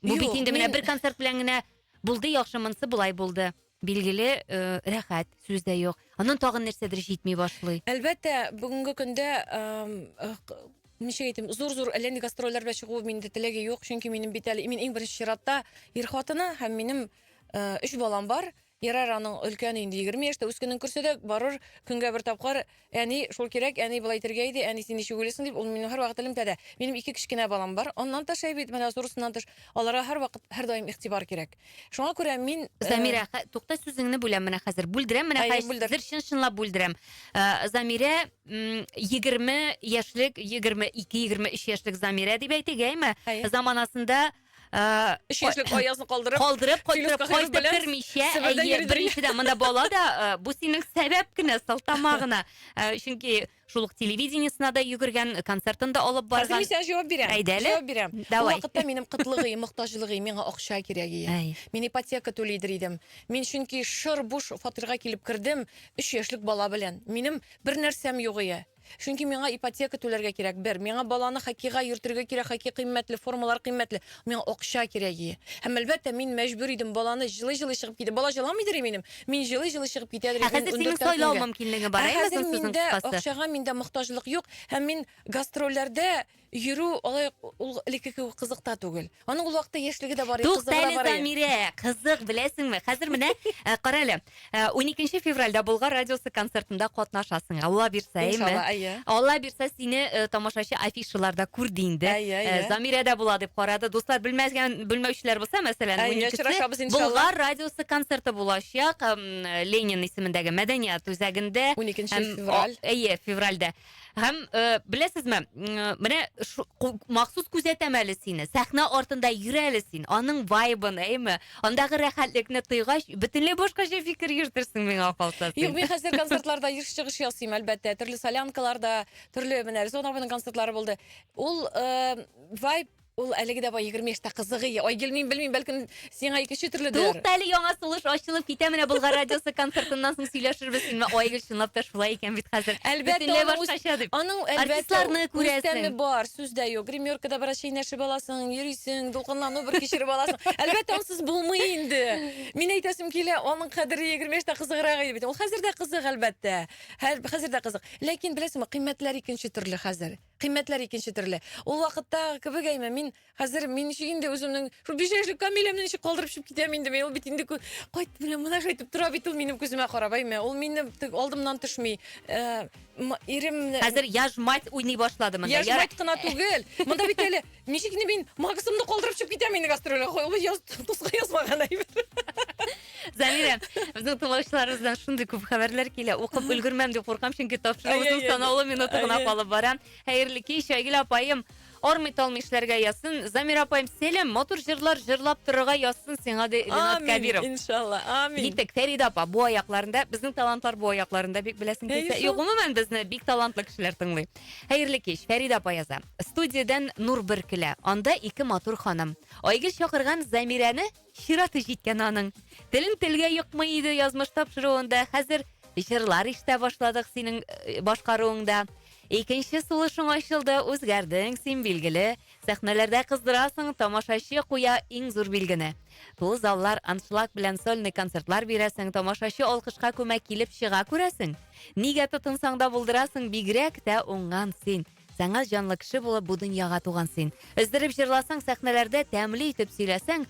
Бу бит инде менә бер концерт белән генә булды, яхшы монсы булай булды. билгеле э, рәхәт сүз дә юк аннан тагын нәрсәдер җитми башлый әлбәттә бүгенге көндә эм, э, к- ничек әйтим зур зур әллә нинди гастрольләр белән чыгу миндә теләге юк чөнки минем бит әле мин иң беренче чиратта ир хатыны һәм минем э, өч балам бар ярар аның өлкәне инде егерме яшьтә үскәнен күрсә дә барыр көнгә бер тапкыр Әни, шул кирәк, әни болай итергә иде, әни син ничек уйлыйсың, дип, ул минем һәрвакыт элемтәдә. Минем ике кечкенә балам бар. Аннан тыш әй бит, менә зурысыннан тыш, аларга һәрвакыт, һәрдаим игътибар кирәк. Шуңа күрә мин, э, Замирә, хә- тукта сүзеңне бүләм менә хәзер. Бүлдерәм менә Әйе, хәзер бүлдер. хәзер чын-чынлап бүлдерәм. Э, Замирә м, 20 яшьлек, 22-23 яшьлек Замирә дип әйтик, әйме? Әйе. Заманасында Э, Өч йөзлек аязны калдырып, калдырып, калдырып, кайтып кермичә, әйе, беренчедән, монда бала да, э, бу синең сәбәп кенә, сылтама гына. Э, чөнки шул ук телевидениесына да йөгергән, концертын да алып барган. Хәзер мин җавап бирәм. Әйдә әле. Җавап бирәм. Давай. Вакытта минем кытлыгы, мохтаҗлыгы, миңа акча кирәге. Мин ипотека түлидер идем. Мин чөнки шыр буш фатирга килеп кердем, 3 яшьлек бала белән. Минем бер нәрсәм юк ие. Чөнки миңа ипотека түләргә кирәк, бер. Миңа баланы хоккейга йөртергә кирәк, хоккей кыйммәтле, формалар кыйммәтле. Миңа акча кирәк и. Һәм, әлбәттә, мин мәҗбүр идем, баланы җылый-җылый чыгып китә. Бала җыламыйдыр и минем. Мин җылый-җылый чыгып китәдер Ә идем хәзер синең ундүрттән сайлау көнгә. мөмкинлеге бар, Ә әйе, хәзер озын сүзнең миндә кыскасы. акчага миндә мохтаҗлык юк, һәм мин гастрольләрдә Йөрү алай ул элекке кебек кызык та түгел. Аның ул вакытта яшьлеге дә бар, и, кызыгы да Туктале, бар. и. Замирә, кызык, беләсеңме? Хәзер менә, ә, кара әле, ә, уникенче февральдә Болгар радиосы концертында катнашасың. Алла бирсә, әйеме? Иншалла, әйе. Алла бирсә, сине э, тамашачы афишалар да күрде инде. Әйе, Э, әйе. Замирә дә була дип карады. Дуслар, белмәгән, белмәүчеләр булса, мәсәлән, Әйе, уникесе очрашабыз, иншалла. Болгар радиосы концерты булачак. Эм, Ленин исемендәге мәдәният үзәгендә. Уникенче Һәм, февраль. о, Әйе, февральдә. Һәм э, беләсезме, менә махсус күзәтәм әле сине. Сәхнә артында йөр әле син, аның вайбын, әйме? Андагы рәхәтлекне тойгач, бөтенләй башкача фикер йөртерсең миңа калса. Юк, мин хәзер концертларда еш чыгыш ясыйм, әлбәттә. Төрле солянкаларда, төрле менә Резоновның концертлары булды. Ул э, вайб Ул әлеге дә бай егерме яшьтә кызыгый. Айгөл, мин белмим, бәлкем сиңа икенче төрледер. Тукта әле яңа сулыш ачылып китә менә Болгар радиосы концертыннан соң сөйләшербез синме Айгөл чынлап та шулай икән бит хәзер. Әлбәттә Бөтенләй аның үз башкача дип. аның әлбәттә Артистларны үз күрәсең. тәме бар, сүз дә юк. Гримеркада бераз чәйнәшеп аласың, йөрисең, дулкынлану бер кичереп аласың. Әлбәттә ансыз булмый инде. Мин әйтәсем килә, аның кадере егерме яшьтә кызыграк иде бит. Ул хәзер дә кызык әлбәттә. Хәл хәзер дә кызык. Ләкин беләсеңме, кыйммәтләр икенче төрле хәзер. Кыйммәтләр икенче төрле. Ул вакыттагы кебек әйме, мин хәзер мин ничек инде үземнең шул биш яшьлек Камиләмне ничек калдырып чыгып китәм инде мин, ул бит инде кү- кайт белән менә шайтып тора бит ул минем күземә карап әйме, ул минем тек алдымнан төшми. Э, м- Иремне Хәзер яжь мать уйный башлады монда. яшь Яра- мать кына түгел. Монда бит әле Ничек инде мин Максымны калдырып чыгып китәм инде гастрольгә. Хой, ул яз, дуска язмаган әйбер. Замирә, безнең тыңлаучыларыбыздан шундый күп хәбәрләр килә. Укып өлгермәм дип куркам, чөнки тапшыруыбызның Әй-әй-әй. санаулы минуты гына Әй-әй. калып бара. Хәерле кич, Айгөл апаем. Армый талмый эшләргә язсын. Замира апаем, сәлам, матур җырлар җырлап торырга язсын сиңа, ди Ренат Амин, Кәбиров. иншалла, амин. Киттек, Фәридә апа, бу аякларында, безнең талантлар бу аякларында бик беләсең Әйе килсә. шул. Юк, гомумән безне бик талантлы кешеләр тыңлый. Хәерле кич, Фәридә апа яза. Студиядән нур бөркелә. Анда ике матур ханым. Айгөл чакырган Замирәне чираты җиткән аның. Телен телгә йокмый иде язмыш тапшыруында. Хәзер җырлар ишетә башладык синең э, башкаруыңда. Икенче сулышың ачылды, үзгәрдең син, билгеле. Сәхнәләрдә кыздырасың, тамашачы куя иң зур билгене. Тулы заллар, аншлаг белән сольный концертлар бирәсең, тамашачы алкышка күмә килеп чыга күрәсең. Нигә тотынсаң да булдырасың, бигрәк тә уңган син. Саңа җанлы кеше булып бу дөньяга туган син. Өздереп җырласаң сәхнәләрдә, тәмле итеп сөйләсәң,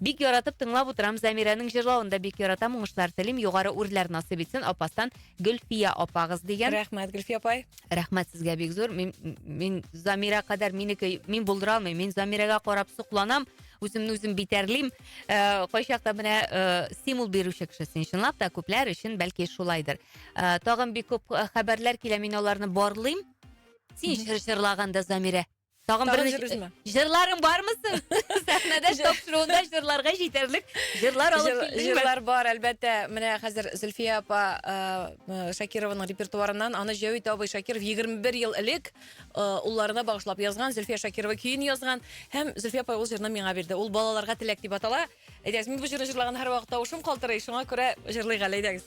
Бик яратып тыңлап утырам, Замирәнең җырлавын да бик яратам, уңышлар телим, югары үрләр насыйп итсен, Апастан Гөлфия апагыз дигән. Рәхмәт, Гөлфия апай. Рәхмәт сезгә бик зур. Мин, мин Замирә кадәр минеке, мин булдыра алмыйм. Мин Замирәгә карап сокланам, үземне үзем битәрлим. Ә, кайчакта менә ә, стимул бирүче кеше син чынлап та күпләр өчен бәлки шулайдыр. Ә, тагын бик күп хәбәрләр килә, мин аларны барлыйм. Син чыр чырлаганда, Замирә. Тагын Тагын берничә- җырыжмы? Җырларың бармы соң? Сәхнәдә Җыр- тапшыруында җырларга җитәрлек җырлар алып Җыр- килдеңме? Җырлар бар, әлбәттә. Менә хәзер Зөлфия апа э, Шакированың репертуарыннан аны Җәвит абый Шакиров 21 ел элек э, улларына багышлап язган, Зөлфия Шакирова көен язган. Һәм Зөлфия апа ул җырны миңа бирде. Ул балаларга теләк дип атала. Әйдәгез, мин бу җырны җырлаган һәрвакыт тавышым калтырый, шуңа күрә җырлыйк әле, әйдәгез.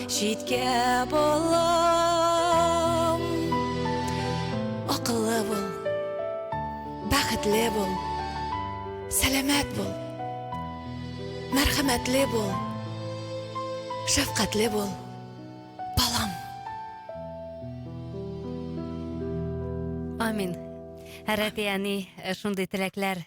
Читкә балам, акыллы бул, бәхетле бул, сәламәт бул, мәрхәмәтле бул, шәфкатьле бул, балам. Амин. Рәти әни, э, шундый теләкләр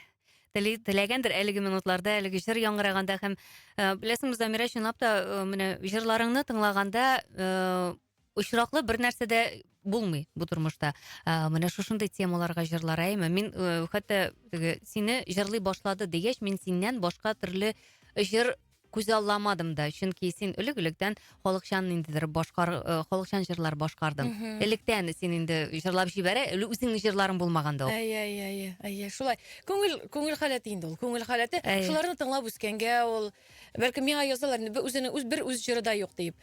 Тели, теләгәндер әлеге минутларда, әлеге җыр яңгыраганда һәм э, беләсеңме, Замира, чынлап та э, менә җырларыңны тыңлаганда э, очраклы бер нәрсә дә булмый бу тормышта. Э, менә шушындый темаларга җырлар әйме. Мин э, хәтта теге сине җырлый башлады дигәч, мин синнән башка төрле җыр күзалламадым да, чөнки син элек-электән халыкчан ниндидер башкар, э, халыкчан җырлар башкардың. Мгм. Электән син инде җырлап җибәрә, эле үзеңнең җырларың булмаганда ул. Әйе, әйе, әйе, әйе, шулай. Күңел, күңел халәте инде ул, күңел халәте. Әйе. Шуларны тыңлап үскәнгә ул, бәлкем миңа язалар, инде бер үзенең үз бер үз җыры да юк диеп.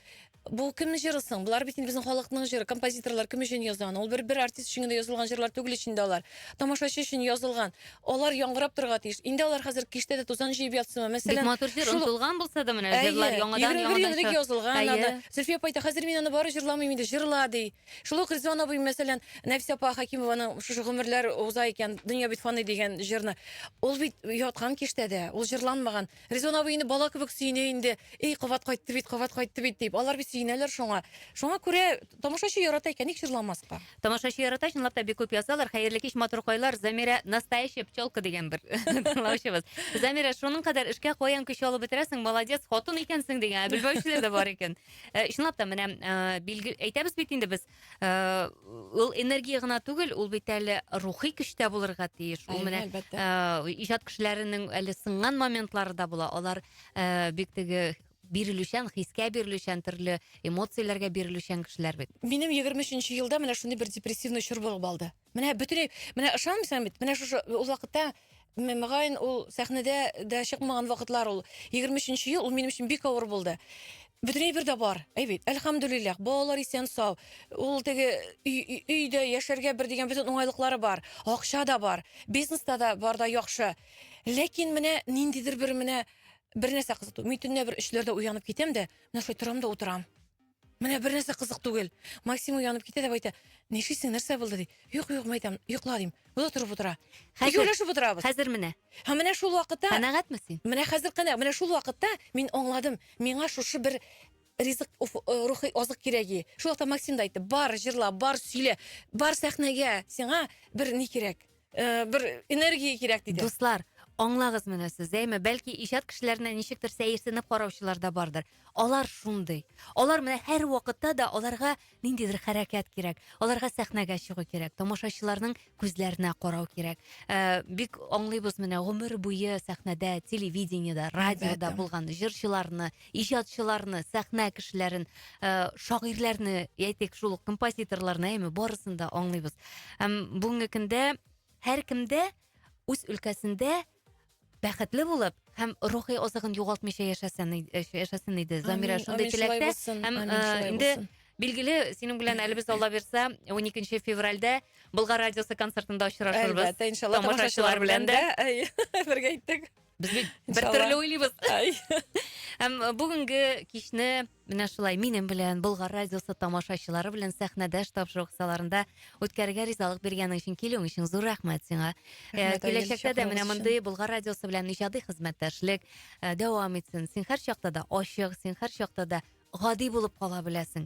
Бу кемнең җыры соң? Болар бит инде безнең халыкның җыры. Композиторлар кем өчен язган? Ул бер бер артист өчен генә язылган җырлар түгел ич инде алар. Тамашачы өчен язылган. Алар яңгырап торырга тиеш. Инде алар хәзер киштә дә тузан җыеп ятсынмы? Мәсәлән, Бик матур җыр, шул- онтылган булса да менә Әйе, җырлар яңадан 21 ел яңадан элек чыга. язылган Әйе. аны. Зөлфия апа әйтә, хәзер мин аны бары җырламыйм инде, җырла, ди. Шул ук Ризван абый, мәсәлән, Нәфисә апа Хәкимованың шушы гомерләр уза икән, дөнья бит фани дигән җырны. Ул бит яткан киштәдә, ул җырланмаган. Резон абый инде бала кебек сөенә инде. Эй, кабат кайтты бит, кабат кайтты бит дип. Алар бит сөенәләр шуңа. Шуңа күрә тамашачы ярата икән, ник җырламаска? Тамашачы ярата, чынлап та бик күп язалар. Хәерле кич, матур кайлар. Замирә настоящая пчелка дигән бер тыңлаучыбыз. Замирә, шуның кадәр эшкә каян көч алып бетерәсең? Молодец, хатын икәнсең дигән. Ә белмәүчеләр дә бар икән. Э, Чынлап та менә э, билге әйтәбез бит инде без. Э, ул энергия гына түгел, ул бит әле рухи көчтә булырга тиеш. Ул менә э, иҗат кешеләренең әле сынган моментлары да була. Алар э, бик теге бирелүчән, хискә бирелүчән, төрле эмоцияләргә бирелүчән кешеләр бит. Минем 23 нче елда менә шундый бер депрессивный чор булып алды. Менә бөтенләй, менә ышанмыйсың бит, менә шушы ул вакытта мөгаен ул сәхнәдә дә чыкмаган вакытлар ул 23 ел ул минем өчен бик авыр булды бөтен әйбер дә бар әй бит әлхамдулиллах балалар исән сау ул теге өйдә яшәргә бер дигән бөтен уңайлыклары бар акча да бар бизнеста да бар да яхшы ләкин менә ниндидер бер менә бер нәрсә кызыту мин төнлә бер өчләрдә уянып китәм дә менә шулай торам да утырам Менә бер нәрсә кызык түгел. Максим уянып китә дә әйтә, нишлисең, нәрсә булды ди. Юк, юк, мәйтәм, йокла дим. Бу да торып утыра. Хәзер, Икәүләшеп утырабыз. Хәзер менә. Һәм менә шул вакытта. Канәгатьме син? Менә хәзер канә, менә шул вакытта мин аңладым, миңа шушы бер ризык, э, рухи азык кирәги. Шул вакытта Максим да әйтте, бар, җырла, бар, сөйлә, бар сәхнәгә, сиңа бер ни кирәк. э, бер энергия кирәк диде. Дуслар, аңлагыз менә сез, әйме, бәлки иҗат кешеләренә ничектер сәерсенеп караучылар да бардыр. Алар шундый. Алар менә һәр вакытта да аларга ниндидер хәрәкәт кирәк. Аларга сәхнәгә чыгу кирәк, тамашачыларның күзләренә карау кирәк. Ә, бик аңлыйбыз менә гомер буе сәхнәдә, телевидениедә, радиода Әлбәттә. булган җырчыларны, иҗатчыларны, сәхнә кешеләрен, э, шагыйрьләрне, әйтик, шул ук композиторларны, әйме, барысын да аңлыйбыз. Һәм бүгенге көндә һәркемдә үз өлкәсендә бәхетле булып һәм рухи азыгын югалтмыйча яшәсен, э, яшәсен иде. Замира Амин, шундый амин, шулай теләктә. булсын, Һәм амин, э, шулай инде булсын. билгеле, синең белән әле без Алла бирсә, 12 февральдә Болгар радиосы концертында очрашырбыз. Әлбәттә, иншалла, тамашачылар белән дә. Әйе, бергә иттек. Без бит бер төрле уйлыйбыз. Һәм э, бүгенге кичне менә шулай минем белән Болгар радиосы тамашачылары белән сәхнәдәш тапшыру кысаларында үткәрергә ризалык биргәнең өчен килүең өчен зур рәхмәт сиңа. Э, киләчәктә дә менә мондый Болгар радиосы белән иҗади хезмәттәшлек э, дәвам итсен. Син һәр чакта да ачык, син һәр чакта да гади булып кала беләсең.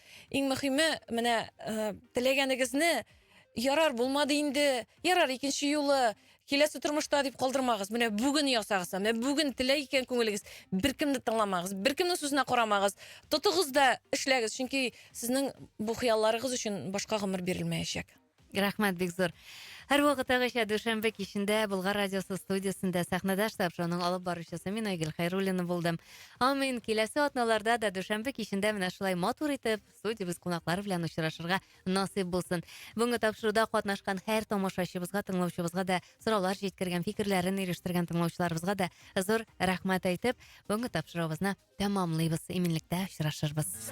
Иң мөхиме, менә э, теләгәнегезне ярар булмады инде, ярар икенче юлы киләсе тормышта дип калдырмагыз. Менә бүген ясагыз, менә бүген теләй икән күңелегез, беркемне тыңламагыз, беркемнең сүзенә карамагыз. Тотыгыз да эшләгез, чөнки сезнең бу хыялларыгыз өчен башка гомер бирелмәячәк. Рәхмәт бик зур. Һәрвакыттагыча дүшәмбе кичендә Болгар радиосы студиясендә сәхнәдә штаб шоуның алып баручысы мин Айгөл Хайруллина булдым. Амин. Киләсе атналарда да дүшәмбе кичендә менә шулай матур итеп студиябез кунаклары белән очрашырга насыйп булсын. Бүгенге тапшыруда катнашкан һәр тамашачыбызга, тыңлаучыбызга да сораулар җиткергән, фикерләрен ирештергән тыңлаучыларыбызга да зур рәхмәт әйтеп, бүгенге тапшыруыбызны тәмамлыйбыз. Иминлектә очрашырбыз.